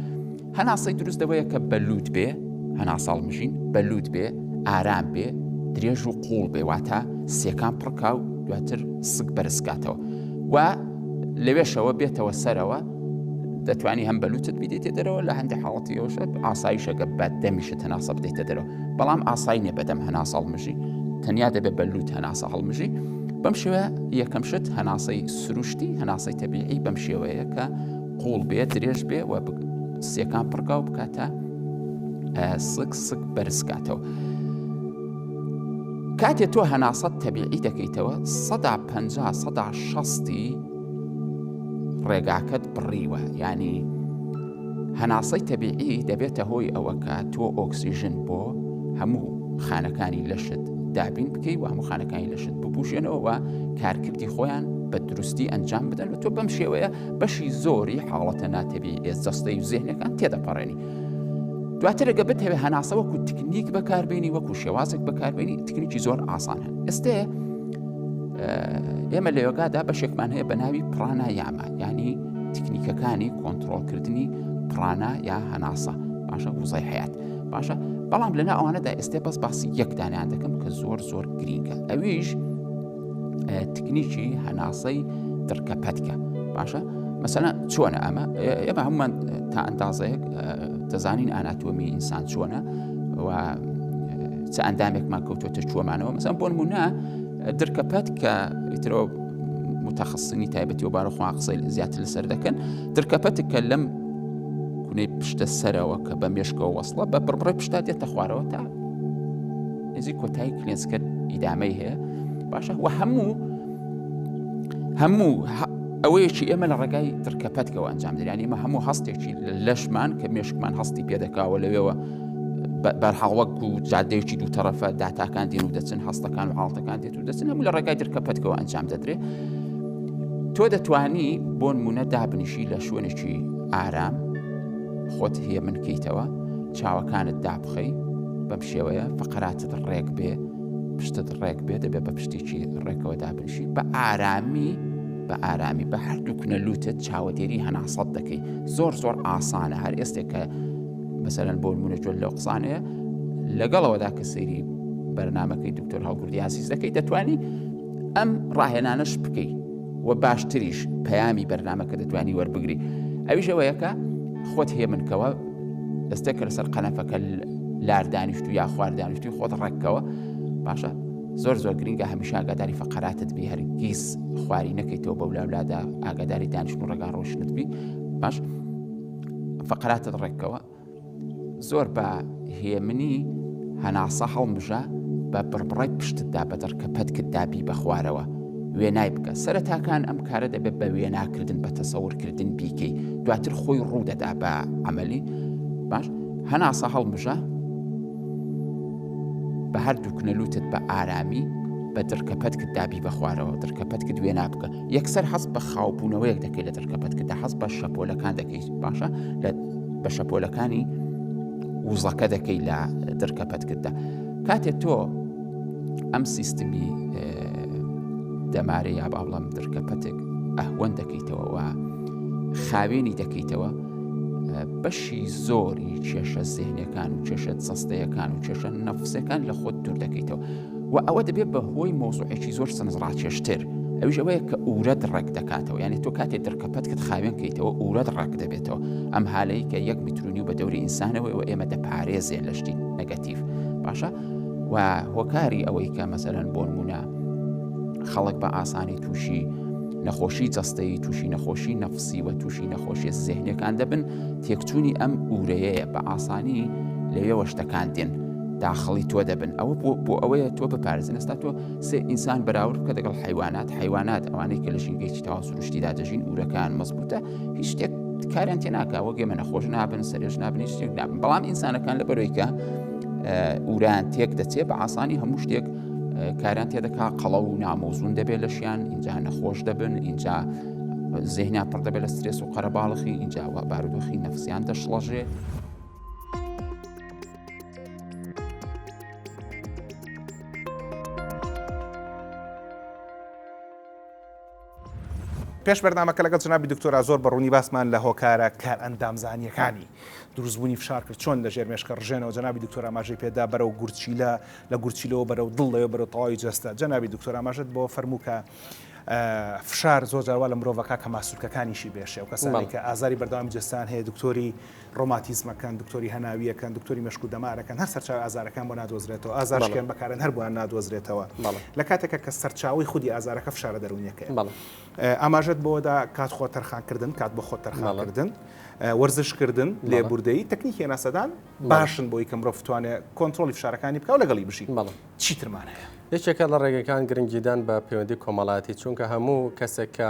هەناسەی دروست دەوەیە کە بەلووت بێ هەناساڵ مژین بەلووت بێ ئارام بێ درێژ و قوڵ بێ واتە سیەکان پڕکاو دواتر سک بەرزکاتەوە و لەوێشەوە بێتەوە سەرەوە دەتوانی هەم بەلوچت بدەیتە دەرەوە لە هەندێک حاڵەتی ئەوشە ئاساییشەکە بە دەمیشت هەناسە بدەیتە دەرەوە بەڵام ئاسایی نیە بەدەم هەناسە هەڵمژی تەنیا دەبێت بە لوت هەناسە هەڵمژی بەم شێوە یەکەم شت هەناسەی سروشتی هەناسەی تەبیعی بەم شێوەیە کە قوڵ بێت درێژ بێ و سیەکان پڕکاو بکاتە سک سک بەرزکاتەوە. کاتێ تۆ هەناسەت تەبیعی دەکەیتەوە سەدا پ سەدا شستی ڕێگاکەت بڕیوە ینی هەناسەی تەبیعی دەبێتە هۆی ئەوەکە تۆ ئۆکسسیژن بۆ هەموو خانەکانی لەشت دابین بکەی و هەموو خانەکانی لەشت بپوشێنەوە کارکردی خۆیان بە دروستی ئەنجام بدەن و تۆ بەم شێوەیە بەشی زۆری حاڵەتە ناتەبی ئێز جەستەی و زێنەکان تێدەپەڕێنی. دواتر گە بتەوێت هەناسە وەکو تکنیک بەکاربیێنی وەکو شێوازێک بەکاربیێنی تکنیکی زۆر ئاسان هەن ئێستێ ئێمە لە یۆگادا بەشێکمان هەیە بە ناوی پڕانە یاما ینی تکنیکەکانی کۆنتترۆلکردنی پڕانە یا هەناسە باشە وزای حیات باشە بەڵام لەنا ئەوانەدا ئێستا بەس باسی یەکدانیان دەکەم کە زۆر زۆر گرینگە ئەویش تکنیکی هەناسەی دڕکە پەتکە باشە مەسەلا چۆنە ئەمە ئێمە هەمومان تا ئەندازەیەک دەزانین ئاناتۆمی ئینسان چۆنە و چ ئەندامێکمان کەوتوتە چۆمانەوە مەسەن بۆن مونە درکە پەت کە ئیترۆ متەخصنی تایبەتی و بارەخوا قسەی زیاتر لەسەر دەکەن درکە پەتک کە لەم کونەی پشتە سەرەوە کە بە مێشکەوە وەسڵە بە بڕڕێ پشتا دێتە خوارەوە تا نزی کۆتایی کلێنسکە ئیدامەی هەیە باشە وە هەموو هەموو ئەوەیەکی ئێمە لە ڕێگای ترکەپەتکەوە ئەنجام دەیان ئمە هەموو هەستێکی لەشمان کە مێشکمان هەستی پێدەکاوە لەوێەوە بەرحاڵ وەک و جادەیەکی دوو تەرەفە داتاکان دێن و دەچن هەستەکان و حاڵتەکان دێت و دەچن هەموو لە ڕێگای ترکە پەتکەوە ئەنجام دەدرێت تۆ دەتانی بۆ نمونە دابنیشی لە شوێنێکی ئارام خۆت هەیە من کەیتەوە چاوەکانت دابخەی بەم شێوەیە فقراتت ڕێک بێ پشتت ڕێک بێ دەبێت بە پشتێکی ڕێکەوە دابنشی بە ئارامی بە ئارامی بە هەردوو کنە لوتت چاوەدێری هەناسەت دەکەی زۆر زۆر ئاسانە هەر ئێستێکە مەسەرەن بۆ نمونە جۆل لەو قسانەیە لەگەڵەوەدا کە سەیری بەرنمەکەی دکتۆر هەڵگوردی یاسیس دەکەی دەتوانی ئەم ڕاهێنانەش بکەیت و باشتریش پەیامی بەرنمەکە دەتوانی وەربگری ئەویش ئەوەیەکە خۆت هێ منکەوە دەستێک کە لەسەر قەنەفەکە لار دانیشت و یا خوار دانیشتی خۆت ڕێککەوە باشە زۆر زۆر گرنگە هەمیشە ئاگاداری فقراتت بی هەرگیز خواری نەکەیتەوە بەولاولادا ئاگاداری دانیشت و ڕگا ڕۆشنت بی باش فقراتت ڕێکەوە زۆر بە هێمنی هەناسە هەڵمژە بە بڕبڕی پشتتدا بە دڕکە پەتکت دابی بە خوارەوە وێنای بکە سەرەتاکان ئەم کارە دەبێت بە وێناکردن بە تەسەورکردن بیکەی دواتر خۆی ڕوودەدا بە ئەمەلی باش هەناسە هەڵمژە بە هەر دووکنەلوتت بە ئارامی بە دڕکەپەتکت دابی بە خوارەوە دڕکەپەتکت وێنا بکە یەکسەر هەست بە خاوبوونەوەیەک دەکەیت لە دەرکەپەت کە هەست بە شەپۆلەکان دەکەیت باشە لە بە شەپۆلەکانی وزەکە دەکەی لە دەرکەپەت کردە کاتێ تۆ ئەم سیستمی دەمارە یا باڵام دەرکەپەتێک ئەهوەن دەکەیتەوەەوە خاوێنی دەکەیتەوە بەشی زۆری کێشە زێنەکان و کێشە سەستەیەکان و کێشە نەفسەکان لە خۆت دوور دەکەیتەوە و ئەوە دەبێت بە هۆی مۆزوعێکی زۆر سنزڕاکێشتر ئەوش ئەوەیە کە ئورەت ڕێک دەکاتەوە یانی تۆ کاتێ دڕکەپەتکت خاوێن کەیتەوە ئورەت ڕێک دەبێتەوە ئەم هالەیە کە یەک میترونی و بە دەوری ئینسانەوەی و ئێمە دەپارێزێ لە شتی نەگەتیف باشە و هۆکاری ئەوەی کە مەسەرەن بۆ نمونە خەڵک بە ئاسانی تووشی نەخۆشی جەستەی تووشی نەخۆشی نەفسی و تووشی نەخۆشیە زێهنەکان دەبن تێکچوونی ئەم ئورەیەیە بە ئاسانی لەوێوە شتەکان دێن داخڵی تۆ دەبن ئەوە بۆ بۆ ئەوەیە تۆ بپارێزن ئەستا تۆ سێ ئینسان بەراورد بکە دەگەڵ حیوانات حیوانات ئەوانەی کە لە ژینگەیەکی تەوا سروشتیدا دەژین ئورەکان مەزبوتە هیچ شتێک کاریان تێ ناکە وەگەێ منە خۆش نابن سەرێژ نابن هیچ شتێک نابن بەڵام ئینسانەکان لە بەرۆیکە ئوران تێک دەچێت بە ئاسانی هەموو شتێک کاران تێدەکا قەڵە و نامۆزون دەبێت لە شیان اینجا نەخۆش دەبن اینجا زیهنا پڕ دەبێت لە سترێس و قەرەباڵخی اینجاوە بارودۆخی نەفسیان دەشڵەژێ پێش بەرنمەکە لەگەڵ جنابی دکتۆرا زۆر بەڕوونی باسمان لە هۆکارە کار ئەندامزانیەکانی دروستبوونی فشار کرد چۆن لە ژێر مێشکە ڕژێنەوە جنابی دکتۆر ئاماژەی پێدا بەرە و گورچیلە لە گورچیلەوە بەرە و دڵ لەوێ بەرە تەواوی جەستە جنابی دکتۆر ئاماژت بۆ فەرمووکە فشار زۆر جاروا لە مرۆڤەکە کە ماسوولکەکانیشی بێشێ و کەسانی کە ئازاری بەردەوامی جستان هەیە دکتۆری ڕۆماتیزمەکەن، دکتۆری هەناوییەکەن، دکتۆری مێشک و دەمارەکەن، هەر سەرچاوەی ئازارەکان بۆ نادۆزرێتەوە، ئازار بەڵێ. شکێن بەکارن هەر بۆیان نادۆزرێتەوە، بەڵێ. لە کاتێکا کە سەرچاوەی خودی ئازارەکە فشارە دەروونییەکەیە. بەڵێ. ئاماژەت بەوە دا کات خۆ تەرخانکردن، کات بۆ خۆت تەرخان کردن، بەڵێ. وەرزشکردن، بەڵێ. لێبوردەیی، تەکنیکی هەناسەدان، بەڵێ. باشن بۆی کە مرۆڤ بتوانێ کۆنترۆڵی فشارەکانی بکا و لەگەڵی بژی. بەڵێ. چی ترمان هەیە؟ یەکێکە لە ڕێگەکان گرنگیدان بە پەیوەندی کۆمەڵایەتی، چونکە هەموو کەسێک کە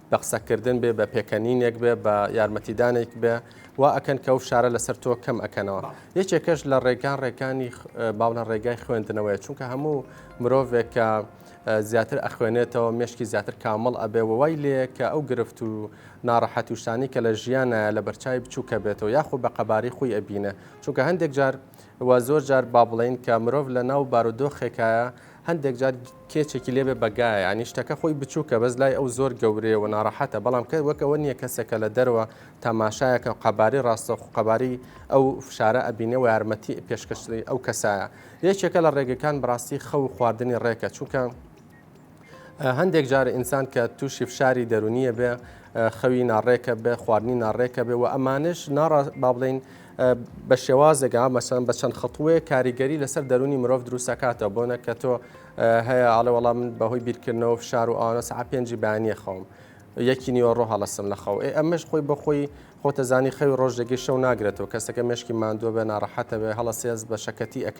بە قسەکردن بێ، بە پێکەنینێک بێ، بە یارمەتیدانێک بێ، وا ئەکەن کە ئەو فشارە لەسەر تۆ کەم ئەکەنەوە. یەکێکەش لە ڕێگا ڕێکانی باوەنە ڕێگای خوێندنەوەیە، چونکە هەموو مرۆڤێک کە زیاتر ئەخوێنێتەوە مێشکی زیاتر کامڵ ئەبێ و وای لێ کە ئەو گرفت و ناڕەحەت و شتانی کە لە ژیانە لە بەرچاوی بچووکە بێتەوە یاخۆ بە قەبارەی خۆی ئەبینێ، چونکە هەندێک جار وە زۆر جار با بڵێین کە مرۆڤ لە ناو بارودۆخێکایە هەندێک جار کێچێکی لێ بێ بەگایە یانی شتەکە خۆی بچووکە بەس لای ئەو زۆر گەورەیە و ناڕەحەتە بەڵام کە وەک ئەوە نییە کەسێک کە لە دەرەوە تەماشایەکە و قەبارەی ڕاستەوخۆ قەبارەی ئەو فشارە ئەبینێ و یارمەتی پێشکەشی ئەو کەسایە یەکێکە لە ڕێگەکان بەڕاستی خەو و خواردنی ڕێکە چونکە هەندێک جار ئینسان کە تووشی فشاری دەرونیە بێ خەوی ناڕێکە بێ خواردنی ناڕێکە بێ و ئەمانش ناڕا با بڵین بە شێوازێکا مەسەن بە چەند خەتووەیە کاریگەری لەسەر دەرونی مرۆڤ دروستەکاتە بۆنە کە تۆ هەیە ئاڵە وەڵام بەهۆی بیرکردنەوە فشار و ئاەس ع پێنجی بانیە خەوم یەکی نیوەڕۆ هەڵستم لە خەو ئەمەش خۆی بەخۆی خۆتەزانی خەوی ڕۆژێکی شەو ناگرێتەوە کەسەکە مشکی ماندووە بە ناڕەحەتە بێ هەڵە سێز بە شەکەتی ئەک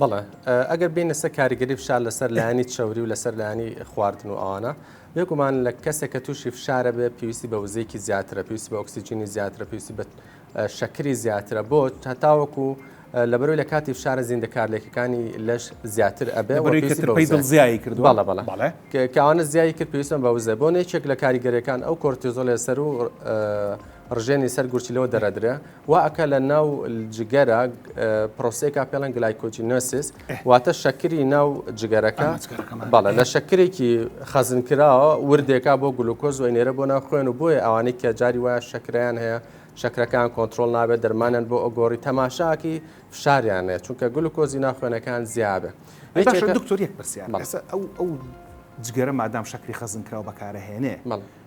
بەڵێ ئەگەر بینە سە کاریگەری فشار لەسەر لایانی چوری و لەسەر لایانی خواردن و ئاوانە بێگومان لە کەسێک کە تووشی فشارە بێ پێویستی بە وزێکی زیاترە پێویستی بە ئۆکسسیجینی زیاترە پێویستی بە شەکری زیاترە بۆ هەتاوەکو لەبەرەوەی لە کاتی فشارە زیندەکارلێکەکانی لەش زیاتر ئەبێ زیایی کرد بەڵە بەڵە کەوانە زیایی کرد پێویستم بە وزە بۆ نێکێک لە کاریگەرەکان ئەو کۆرتیزۆلێ سەر و ڕژێنی سەر گورچیلەوە دەرەدرێ وا ئەکا لە ناو جگەرە پرۆسەیەکا پێڵێن گلایکۆجینۆسیس واتە شەکری ناو جگەرەکە بەڵێ لە شەکرێکی خەزنکراوە وردێکا بۆ گلوکۆز وی نێرە بۆ ناو خوێن و بۆیە ئەوانەی کە جاری وایە شەکریان هەیە شەکرەکان کۆنتترۆل نابێت دەرمانیان بۆ ئۆگۆری تەماشاکی فشاریان نێت چونکە گلوکۆزی ناخوێنەکان زیابێت دکتۆریەک پرسیار ئەو جگەرە مادام شەکری خەزنکراوە بەکارەهێنێ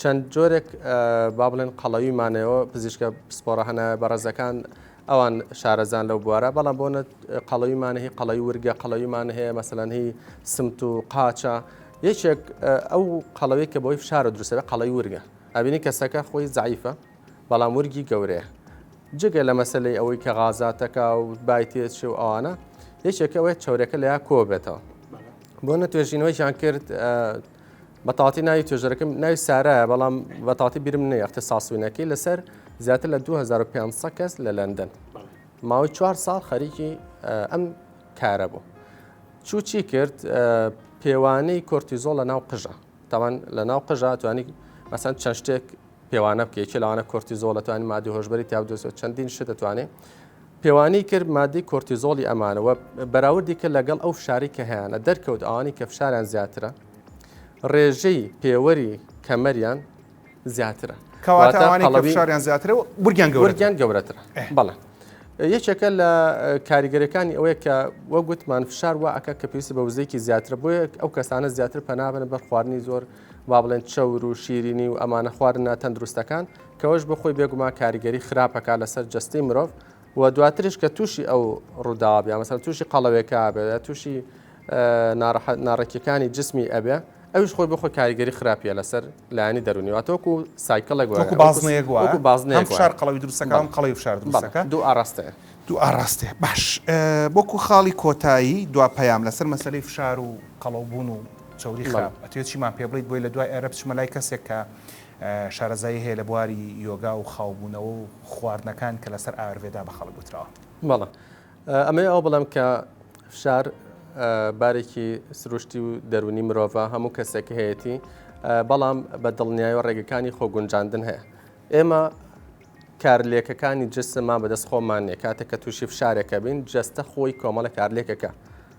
چەند جۆرێک با بڵێن قەڵەوی مانەوە پزیشکە پسپۆڕە هەنە بەڕێزەکان ئەوان شارەزان لەو بوارە بەڵام بۆ قەڵەوی مانەهی قەڵەوی ورگە قەڵەویمان هەیە مەسەلەن هی سمت و قاچە یەکێک ئەو قەڵەوی کە بۆی فشارە دروستەوە قەڵەی ورگە ئەبینی کەسەکە خۆی زعیفە بەڵام ورگی گەورەیە جگە لە مەسلەی ئەوەی کە غازاتەکە و بای تێچ و ئەوانە یەکێکەوەی چاورەکە لە یا کۆبێتەوە بۆ نە توێژینەوەیان کرد بە تاتی ناوی توێژەرەکەم ناوی سارایە بەڵام بە تاتی بیرم نەیە اختصاصوینەکەی لەسەر زیاتر لە 2500 کەس لە لەندەن ماوەی چوار ساڵ خەریکی ئەم کارە بوو چوو چی کرد پێوانەی کۆرتیزۆڵ لە ناو قژە تاوان لە ناو قژە توانی مەسەن چەند شتێک پێوانە بکە یەکێ لەوانە کۆرتیزۆڵ دەتوانین مادی هۆشبەری تیا بدۆزێت چەندین شت دەتوانێت پێوانی کرد مادی کۆرتیزۆڵی ئەمانەوە بەراوردی کرد لەگەڵ ئەو فشاری کە هەیەە دەرکەوت ئەوانی کە فشاریان زیاترە ڕێژەی پێوەری کەمەریان زیاترە کەواتەڵەویشاریان زیاترە و برگیان گەورەگیان گەورەتر بەڵێ یەکێکە لە کاریگەرەکانی ئەوەیە کە وەگوتمان فشار وە ئەکە کە پێویستی بە وزێکی زیاتر بۆیە ئەو کەسانە زیاتر پەنابن بەر خواردنی زۆر وا بڵێن چەور و شیرینی و ئەمانە خوارن نا تەندروستەکان کەەوەش بۆ خۆی بێگومان کاریگەری خراپەکە لەسەر جستی مرۆڤ و دواتریش کە تووشی ئەو ڕووداوە بیا مەسەر تووشی قەڵەوێکە بێ تووشی ناڕێکیەکانی جسمی ئەبێ ئەوش خۆی بخۆ کاریگەری خراپە لەسەر لایانی دەرونیواتۆکو سایکلێک بازنێک بازنێک شار قەڵەوی دروستەکان قەڵی فشار دروستەکە دوو ئاراستێ دوو ئاراستێ باش بۆکو خاڵی کۆتایی دوا پەیام لەسەر مەسلەی فشار و قەڵەوبوون و چەوری خراپ ئەتوێت چیمان پێ بڵیت بۆی لە دوای ئێرە بچمە لای کەسێک کە شارەزایی هەیە لە بواری یۆگا و خاوبوونەوە و خواردنەکان کە لەسەر ئاروێدا بە خەڵک گوتراوە بەڵە ئەمەی ئەو بڵم کە فشار بارێکی سروشتی و دەرونی مرۆڤە هەموو کەسێک هەیەی بەڵام بە دڵنیای و ڕێگەکانی خۆگونجاندن هەیە ئێمە کارلێکەکانی جسممان بەدەست خۆمان نیە کاتێک کە تووشی فشارێکە بین جەستە خۆی کۆمەڵە کارلێکەکە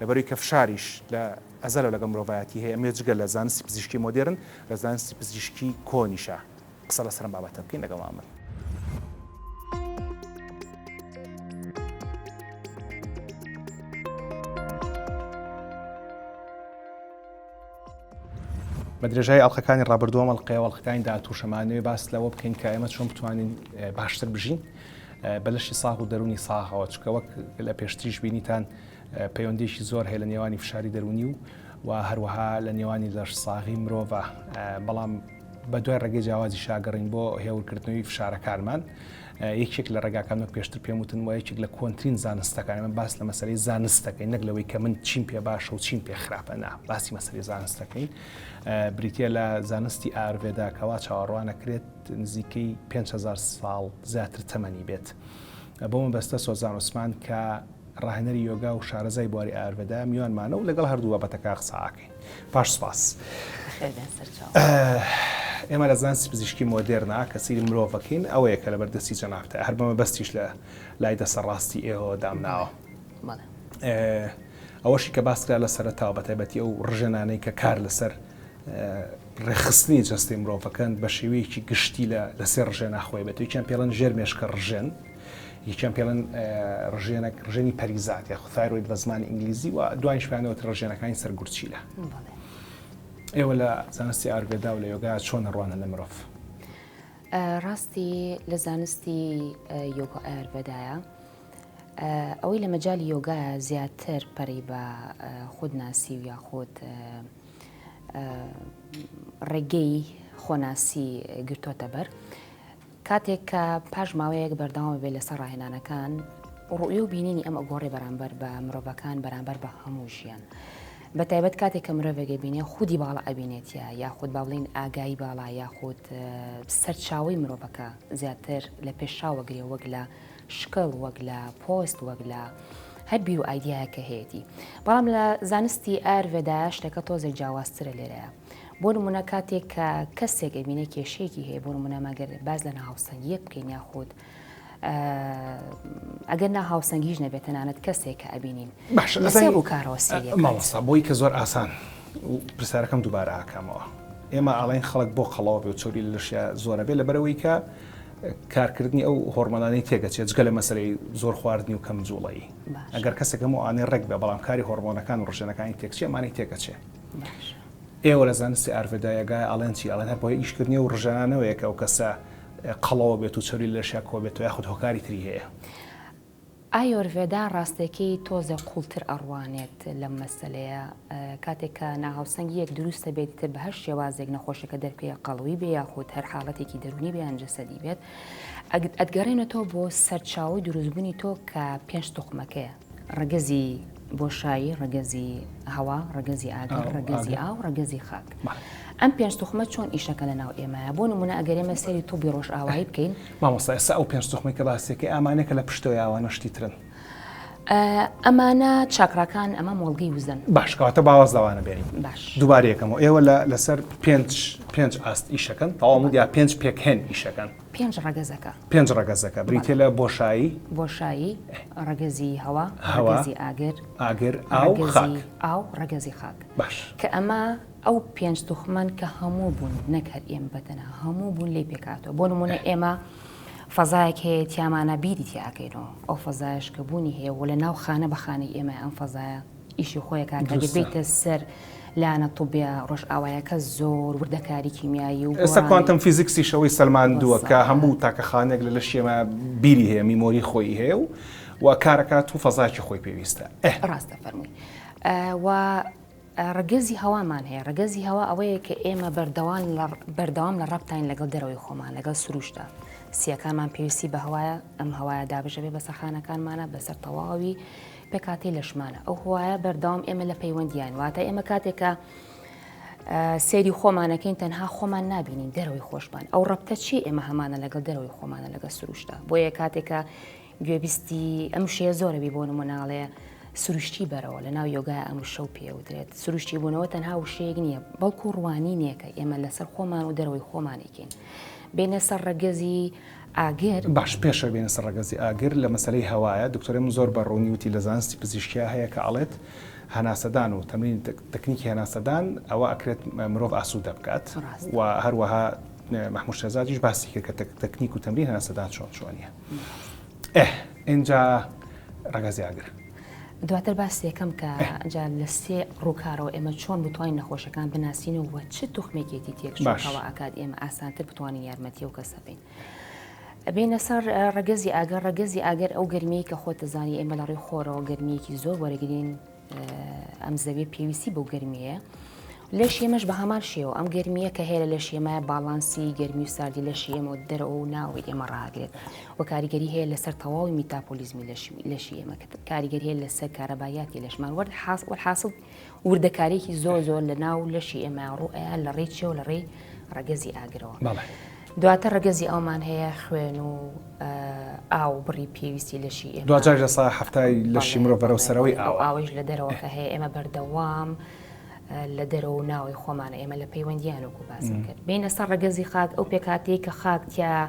لەبەروی کە فشاریش لە ئەزەلەوە لەگەڵ مرۆڤایەتی هەیە، ئەمەوێت جگە لە زانستی پزیشکی مۆدێرن، لە زانستی پزیشکی کۆنیشە قسە لەسەر ئەم بابەتە بکەین، لەگەڵمان بن. بە درێژای ئەڵلقەکانی ڕابردووەم ئەڵلقەیە ئەڵلقەکانی داهاتوو شەمانەوێ باس لەوە بکەین کە ئێمە چۆن بتوانین باشتر بژین بە لەشی ساغ و دەرونی ساغەوە چکە وەک لە پێشتریش بینیتان پەیوەندیەکی زۆر هەیە لە نێوانی فشاری دەروونی و و هەروەها لە نێوانی لەش ساغی مرۆڤە بەڵام بە دوای ڕێگەی جیاوازی شاگەڕین بۆ هێورکردنەوەی فشارەکانمان یەکێک لە ڕێگاکان وەک پێشتر پێم وتن وە یەکێک لە کۆنتترین زانستەکان من باس لە مەسەری زانستەکەی نەک لەوەی کە من چیم پێ باشە و چیم پێ خراپەنا باسی مەسەری زانستەکەین بریتە لە زانستی ئارڤێدا کەوا چاوەڕوانەکرێت نزیکەی 5هزار ساڵ زیاتر تەمەنی بێت بۆ مەبەستە سۆزان عوسمان کە ڕاهێنەری یۆگا و شارەزای بواری ئایورڤێدا میوانمانە و لەگەڵ هەردوو بابەتەکە قسەئاکەین. پاش سوپاس. بەخێر بێن سەرچاوە. ئێمە لە زانستی پزیشکی مۆدێرنا کە سەیری مرۆڤەکەین ئەوەیە کە لەبەر دەستی جەنابتە هەر بە مەبەستیش لە لای دەسە ڕاستی ئێوە دامناوە ئەوەشی کە باسکرا لە سەرتاوە بە تایبەتی ئەو ڕژێنانەی کە کار لەسەر ڕێخستنی جەستی مرۆڤەکەن بە شێوەیەکی گشتی لە لەسێ ڕژێ ناخۆی بێت یکیان پێڵەن ژێر مێشکە ڕژێن یەکیان پێڵێن ڕژێنەک ڕژێنی پەریزات یاخو ثایرۆید بە زمانی ئینگلیزی و دوایش پێیانەوەت ڕژێنەکانی سەر گورچیلە ئێوە لە زانستی ئارگەدا و لە یۆگا چۆن ڕوانە لە مرۆڤ ڕاستی لە زانستی یۆگا ئاربەدایە ئەوەی لە مەجای یۆگا زیاتر پەری بە خودناسی و یاخود ڕێگەی خۆناسی گرتوۆتە بەر کاتێک کە پاش ماوەیەک بەردەوام بێت لەسەر ڕاهێنانەکان، ڕوئیە و بینینی ئەم ئەگۆڕی بەرامبەر بە مرۆڤەکان بەرامبەر بە هەموو ژیان. بە تایبەت کاتێک کە مرۆڤێک ئەبینێ خودی باڵا ئەبینێتە یاخود با بڵێین ئاگایی باڵا یاخود سەرچاوەی مرۆڤەکە زیاتر لە پێشا وەگرێ وەک لە شکڵ وەک لە پۆست وەک لە هەر بیر و ئایدیایەکە هەیەتی بەڵام لە زانستی ئار ڤێدایە شتەکە تۆزێک جیاوازترە لێرەیە. بۆ نمونە کاتێک کە کەسێک ئەبینێ کێشەیەکی هەیە بۆ نمونە مەگەر باز لە ناهاوسەنگیە بکەین یاخود ئەگەر ناهاوسەنگیش نەبێت تەنانەت کەسێک کە ئەبینین باشە بۆ کارەوە سەری مامۆستا بۆی کە زۆر ئاسان پرسیارەکەم دووبارە ئاکامەوە ئێمە ئاڵین خەڵک بۆ قەڵەوە بێ چۆری لەشیا زۆرە بێ لەبەرەوەی کە کارکردنی ئەو هۆرمۆنانی تێگەچێت جگە لە مەسلەی زۆر خواردنی و کەم جوڵی ئەگەر کەسێکم و ئاێ ڕێک بێ بەڵام کاری هۆرمۆنەکان و ڕژێنەکانی تێکچێمانی تێکەچێت باشە ئێوە لە زانستی ئارڤێدایەگای ئەڵێن چی ئەڵێن هەر بۆی ئیشکردنی و ڕژانەوەیەکە ئەو کەسە قەڵەوە بێت و چەوری لەشیا کۆبێتەوە یاخود هۆکاری تری هەیە. ئایۆرڤێدا ڕاستەکەی تۆزێ قوڵتر ئەڕوانێت لەم مەسەلەیە کاتێک کە ناهاوسەنگیەک دروستە بێت تر بە هەر شێوازێک نەخۆشەکە دەرپێ قەڵەوی بێ یاخود هەر حاڵەتێکی دەرونی بێیان جەسەدی بێت ئەتگەڕێنێتەوە بۆ سەرچاوی دروستبوونی تۆ کە پێنج توخمەکەیە ڕەگەزی بۆشایی، ڕەگەزی هەوا، ڕەگەزی ئاگر، ڕەگەزی ئاو، ڕەگەزی خاک. ئەم پێنج توخمە چۆن ئیشەکە لە ناو ئێمەیە بۆ نمونە ئەگەر ئێمە سەری توبی ڕۆژئاوایی بکەین مامۆستا ئێستا ئەو پێنج توخمی کە باسیەکە ئامانە کە لە پشتەوە یاوانە شتی ترن ئەمانە چاکڕەکان ئەمە مۆڵگەی وزن باشکاتە باوە زەوانە بێنی باش دووبارەکەمەوە ئێوە لە لەسەر پێنج پێنج ئاست ئیشەکەن تەواو یا پێنج پێکهێن ئیشەکەن پێنج ڕەگەزەکە. پێنج ڕەگەزەکە بریتیە لە بۆشایی، بۆشایی، ڕەگەزی هەوا، هەوا، ڕەگەزی ئاگر، ئاگر، ئاو، خاک. ڕەگەزی ئاو، ڕەگەزی خاک. باش. کە ئەمە ئەو پێنج توخمان کە هەموو بوون نەک هەر ئێمە بە تەنها هەموو بوون لێی پێکهاتووە بۆ نموونە ئێمە فەزایەک هەیە تیامانە بیری تیا ئەکەینەوە ئەو فەزایەش کە بوونی هەیە و لەناو خانە بە خانەی ئێمە ئەم فەزایە ئیشی خۆیە کاکە ئەگەر بێیتە سەر لایەنە طوبیە ڕۆژئاوایەکە زۆر وردەکاری کیمیایی و ئێستا کوانتەم فیزیکسیش ئەوەی سەلماندووە کە هەموو تاکەخانێک لە لەشی ئێمە بیری هەیە میمۆری خۆی هەیە و و کارەکات و فەزایکی خۆی پێویستە ڕاستە فەرمووی و ڕگەزی هەوامان هەیە ڕگەزی هەوا ئەوەیە کە ئێمە بەردەوان بەردەوام لە ڕەپتین لەگەڵ دەرەوەی خۆمان لەگەڵ سروشتە سیەکانمان پێویستی بە هەوایە ئەم هەوایە دابژەێ بە سەخانەکانمانە بەسەر تەواوی پێکهاتەی لەشمانە ئەو هوایە بەردەوام ئێمە لە پەیوەندیان واتە ئێمە کاتێکە سێری خۆمانەکەین تەنها خۆمان نبینین دەرەوەی خۆشمان ئەو ڕەبتە چی ئێمە هەمانە لەگەڵ دەرەوەی خۆمانە لەگە سروشتا بۆیە کاتێکە گوێبیستی ئەم شەیە زۆرەبی بۆ نموناڵەیە سروشتی بەرەوە لە ناو یۆگای ئەم شەو پێوترێت سروشتی بوونەوە تەنها وشەیەک نییە بەڵکو ڕوانینێکە ئێمە لەسەر خۆمان و دەرەوەی خۆمانێکین بینە سەر ڕەگەزی ئاگر؟ باش پێشەوە بێینە سەر ڕەگەزی ئاگر لە مەسەلەی هەوایە دکتۆرەی من زۆر بە ڕوونی وتی لە زانستی پزیشکیا هەیە کە ئەڵێت هەناسەدان و تەمرینی تەکنیکی هەناسەدان ئەوە ئەکرێت مرۆڤ ئاسوودە بکات و هەروەها محمود شێزادیش باسی کرد کە تەکنیک و تەمرین هەناسەدان چۆن چۆنیە ئه ئینجا ڕەگەزی ئاگر دواتر باسی دەکەم کە جا لە سێ ڕووکارەوە ئێمە چۆن بتوانین نەخۆشەکان بناسینەوە چ توخمێکێتی تێکشەوە ئاکات ئێمە ئاسانتر بتوانین یارمەتی و کەسە بین. بینە سەر ڕگەزی ئەگەر ڕگەزی ئەگەر ئەو گرمی کە خۆت دەزانانی ئێمە لە ڕێی خۆرەوە گرمیەکی زۆر وەرەگرین ئەم زەوی پێویستی بۆ گرمیە لەشی ئێمەش بە هەمان شێوە ئەم گەرمیە کە هەیە لە لەشی ئێمە باڵانسی گەرمی و ساردی لەشی ئێمە و دەرەوە و ناوی ئێمە ڕاگرێت و کاریگەری هەیە لەسەر تەواوی میتاپۆلیزمی لەشی ئێمە کە کاریگەری هەیە لەسەر کارەبایاتی لەشمان وەرد حاس وەحاصل وردەکارێکی زۆر زۆر لە ناو لەشی ئێمە ڕوئە لە ڕێی چێ و لە ڕێی ڕەگەزی ئاگرەوە دواتە ڕگەزی ئەومان هەیە خوێن و ئاو بڕی پێویستی لەشی دوجار لە سا هەفتای لەشی مرۆڤەرە و سەرەوەی ئاو ئاوش لە دەرەوەکە هەیە ئێمە بەردەوام. لە دەرەوە و ناوەی خۆمانە ئێمە لە پەیوەندیان وەکو باسم کرد بینە سەر ڕگەزی خاک ئەو پێکاتەیە کە خاکتیا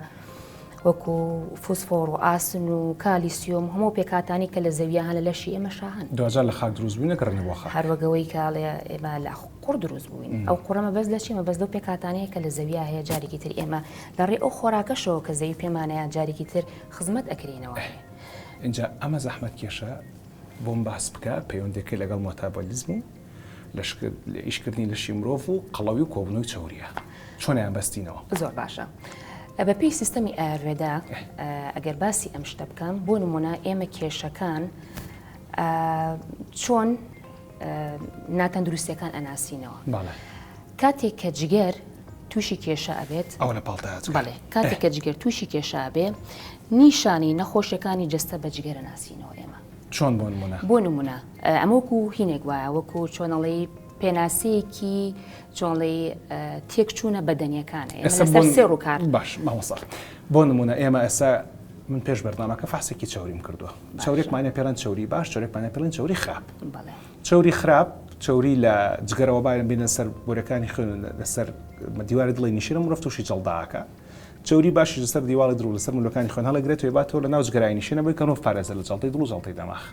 وەکو فوسفۆڕ و ئاسن و کالیسیۆم هەموو پێکاتانی کە لە زەویان لە لەشی ئێمە شاهن دوجا لە خاک دروست بووینە کڕنی بۆ هەروەگەوەی کاڵێ ئێمە لە قڕ دروست بووین ئەو قڕەمە بەس لە چیمە بەس لەو پێکاتانەیە کە لە زەویا هەیە جارێکی تر ئێمە لە ڕێ ئەو خۆراکەشەوە کە زەوی پێمانەیە جارێکی تر خزمەت ئەکرینەوە. اینجا ئەمە زەحمەت کێشە بۆم باس بکە پەیوەندیەکەی لەگەڵ مۆتابۆلیزم و ئیشکردنی لەشی مرۆڤ و قەڵەوی و کۆبنەوەی چەوریە چۆنیان بەستینەوە زۆر باشە بەپی سیستەمی ئاروێدا ئەگەر باسی ئەم شتە بکەم بۆ نمونە ئێمە کێشەکان چۆن ناتەندروستەکان ئەناسینەوە کاتێک کە جگەر تووشی کێشە ئەبێت ئەو لە پاڵ کاتێک کە جگەر تووشی کێشە بێ نیشانی نەخۆشیەکانی جەستە بە جگەرە ناسینەوە ئێمە. چۆن بۆ نمونە؟ بۆ نمونە ئەمە وەکو هینێک وایە وەکو چۆنەڵی پێناسەیەکی چۆنڵی تێکچوونە بەدەنیەکانە ئێمە سێ ڕووکار باش مامۆسا بۆ نمونە ئێمە ئێستا من پێش بەردانەکە فاسێکی چاوریم کردووە چاورێکمانە پێران چوری باش چۆرێکمانە پێڵین چوری خراپ چوری خراپ چوری لە جگەرەوە بایم بینە سەر بۆرەکانی خوێن لەسەر دیواری دڵی نیشرم ڕفتوشی جڵداکە چەوری باشیش لەسەر دیواڵی دڵ و لەسەر ملوەکانی خوێن هەڵەگرێت و ئەباتەوە لە ناو جگەرایی نشێنە بۆی کە نۆڤ پارێزە لە جەڵتەی دڵ و جەڵتەی دەماغ.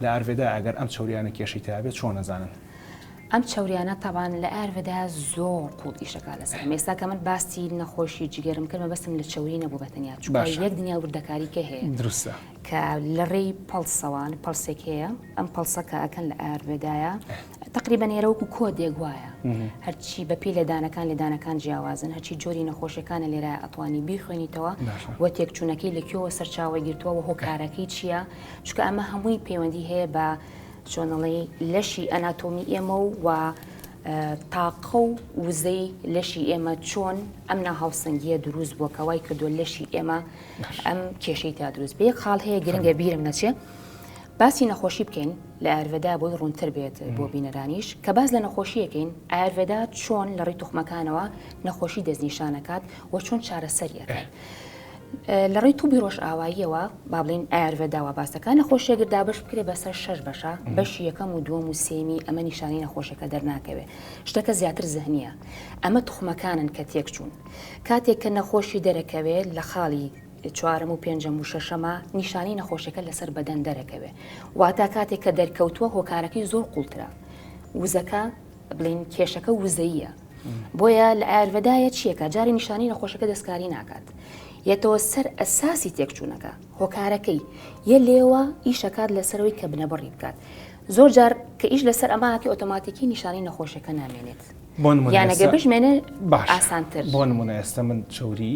لە ئارڤێدا ئەگەر ئەم چەوریانە کێشەی تیابێت چۆن ئەزانن؟ ئەم چەوریانە تەبان لە ئارڤێدا زۆر قوڵ ئیشەکە لەسەر ئێستا کە من باسی نەخۆشی جگەرم کرد مەبەستم لە چەوری نەبوو بە تەنیا چوو باش یەک دنیا وردەکاری کە هەیە درستە کە لە ڕێی پەڵسەوان پەڵسێک هەیە ئەم پەڵسەکە ئەکەن لە ئارڤێدایە تەقریبەن ئێرە وەکو کۆدێک وایە هەرچی بە پێی لێدانەکان لێدانەکان جیاوازن هەچی جۆری نەخۆشیەکانە لێرە ئەتوانی بیخوێنیتەوە و تێکچوونەکەی لە کێوە سەرچاوە گرتووە و هۆکارەکەی چییە چکە ئەمە هەمووی پەیوەندی هەیە بە چۆنەڵی لەشی ئەناتۆمی ئێمە و و تاقە و وزەی لەشی ئێمە چۆن ئەم ناهاوسەنگیە دروست بووە کەوای کردو لەشی ئێمە ئەم کێشەی تا دروست بێ خاڵ هەیە گرنگە بیرم نەچێت. باسی نەخۆشی بکەین لە ئایرڤێدا بۆی ڕوونتر بێت بۆ بینەرانیش، کە باس لە نەخۆشیەکەین ئایرڤێدا چۆن لە ڕوی توخمەکانەوە نەخۆشی دەستنیشانەکات و چۆن چارەسەری ئەکات. لە ڕوی توبی ڕۆژئاواییەوە با بڵێن ئایرڤێدا وا باس دەکات نەخۆشی ئەگەر دابەش بکرێت بەسەر شەش بەشە بەشی یەکەم و دووەم و سێمی ئەمە نیشانەی نەخۆشەکە دەرناکەوێت شتەکە زیاتر زەهنیە ئەمە توخمەکانن کە تێکچوون کاتێک کە نەخۆشی دەرەکەوێت لە خاڵی چوارەم و پێنجەم و شەشەمە نیشانەی نەخۆشیەکە لەسەر بەدەن دەرەکەوێ واتا کاتێک کە دەرکەوتووە هۆکارەکەی زۆر قوڵترە وزەکە بڵین کێشەکە وزەیە بۆیە لە ئارڤدایە چیەکە جاری نیشانی نەخۆشەکە دەستکاری ناکات یەتەوە سەر ئەساسی تێکچوونەکە هۆکارەکەی یە لێوە ئیشەکات لەسەرەوەی کە بنەبڕی بکات زۆر جار کە ئیش لەسەر ئەماکی ئۆتۆماتیکی نیشانی نەخۆشەکە نامێنێت یانەگە بژمێنێ ئاسانتر بۆ نمونە ئێستا من چوری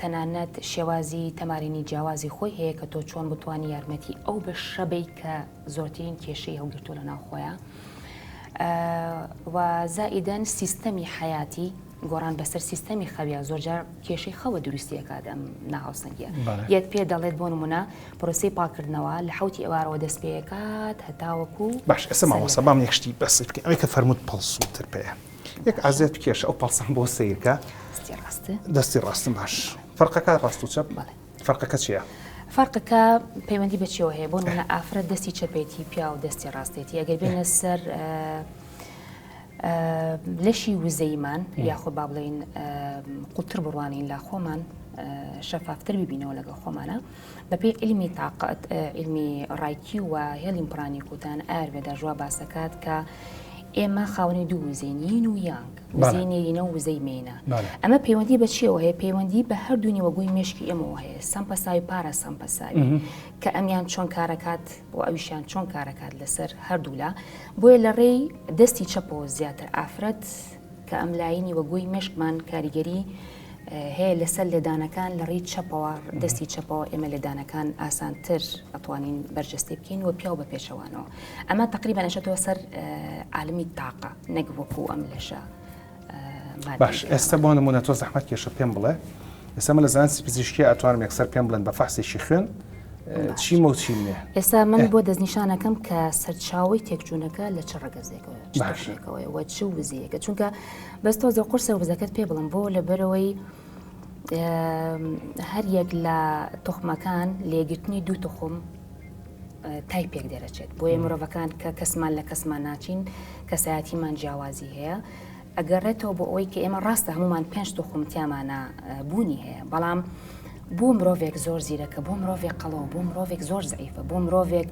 تەنانەت شێوازی تەمارینی جیاوازی خۆی هەیە کە تۆ چۆن بتانی یارمەتی ئەو بەشە بی کە زۆرترین کێشەی هەڵگرتووە لە ناوخۆیە و زائیدەن سیستەمی حیاتی گۆڕان بەسەر سیستەمی خەویا زۆرجار کێشەی خەوە دروستیەکات ئەم ناهاوسەنگە یەت پێ دەڵێت بۆ نمونە پرۆسی پاکردنەوە لە حوتی ئەوارەوە دەست پێەکات هەتاوەکو باش ئەسە ماوەسە بام یەکشتی بەسیت ئەوەی کە فەرمووت پڵسووتر پێەیە یەک ئازێت بکێشە ئەو پەڵسەم بۆ سەیرکە دەستی ڕاست دەستی ڕاستم باش فەرقەکە ڕاست و چەپ بەڵێ فەرقەکە چییە؟ فەرقەکە پەیوەندی بە چیەوە هەیە بۆ نمونە ئافرە دەستی چەپێتی پیا و دەستی ڕاستێتی ئەگەر بێنە سەر لەشی وزەیمان یاخۆ با بڵین قوتر بڕوانین لا خۆمان شەفافتر ببینەوە لەگەڵ خۆمانە بە پێی عیلمی تاقەت عیلمی ڕایکی و هێڵیم پرانی کوتان ئاربێدا ژوا باسەکات کە ئێمە خاونی دوو وزینین و یانگ وزەی نێرینە و وزەی مینە ئەمە پەیوەندی بە چیەوە هەیە پەیوەندی بە هەردوو نیوەگوی مشکی ئێمەوە هەیە سەمپەساوی پارە سەمپەساوی کە ئەمیان چۆن کارەکات و ئەویشیان چۆن کارەکات لەسەر هەردوولا بۆیە لە ڕێی دەستی چەپەوە زیاتر ئافرەت کە ئەم لاینی وەگوی مشکمان کاریگەری هەیە لەسەر لێدانەکان لە ڕیی چەپەوە دەستی چەپەوە ئێمە لێدانەکان ئاسانتر ئەتوانین بەرجەستی بکەین و پیاو بە پێچەوانەوە ئەمە تقریبا ئەشێتەوە سەر عالمی تاقە نەک وەکو ئەم لەشە باش ئێستا بۆ نمونە تۆ زەحمەت کێشە پێم بڵێ ئێستا من لە زانستی پزیشکی ئەتوانم یەکسەر پێم بڵێن بە فەحسێکی خوێن چی مەوچی نیە ئێستا من بۆ دەستنیشانەکەم کە سەرچاوی تێکچوونەکە لە چ ڕگەزێکەوە باشێکەوەی وە چ وزیەکە چونکە بەس تۆزێ قورسە وزەکەت پێ بڵم بۆ لەبەرەوەی هەر یەک لە تخمەکان لێگرتنی دوو تخم تای پێک دەرەچێت بۆیە مرۆڤەکان کە کەسمان لە کەسمان ناچین کەسایەتیمان جیاوازی هەیە ئەگەڕێتەوە بۆ ئەوەی کە ئێمە ڕاستە هەمومان پێنج تخم تیامانە بوونی هەیە بەڵام بۆ مرۆڤێک زۆر زیرەکە بۆ مرۆڤێک قەڵەوە بۆ مرۆڤێک زۆر زعیفە بۆ مرۆڤێک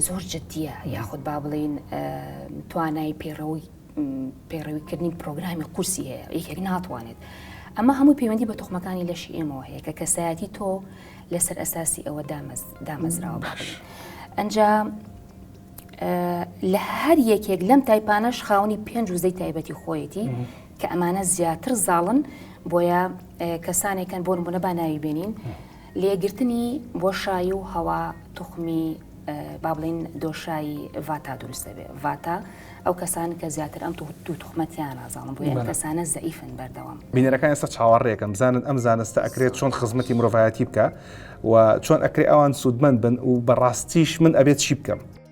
زۆر جددیە یاخود با بڵین توانای پەیڕەوەی پەیڕەویکردنی پرۆگرامی قورسی هەیە یەکێک ناتوانێت ئەمە هەموو پەیوەندی بە تخمەکانی لەشی ئێمەوە هەیە کە کەسایەتی تۆ لەسەر ئەساسی ئەوە دامەزراوە باش ئەجا لە هەر یەکێک لەم تایپانەش خاونی پێنج وزەی تایبەتی خۆیەتی کە ئەمانە زیاتر زاڵن بۆیە کەسانێکن بۆن بوونە با ناوی بێنین لێگرتنی بۆشایی و هەوا توخمی با بڵێین دۆشای ڤاتا دروست دەبێت ڤاتا ئەو کەسان کە زیاتر ئەم دوو توخمە تیان نازانم بۆ ئەم کەسانە زەئیفن بەردەوام بینەرەکان ئێستا چاوەڕێکەن بزانن ئەم زانستە ئەکرێت چۆن خزمەتی مرۆڤایەتی بکە و چۆن ئەکرێ ئەوان سوودمەند بن و بەڕاستیش من ئەبێت چی بکەم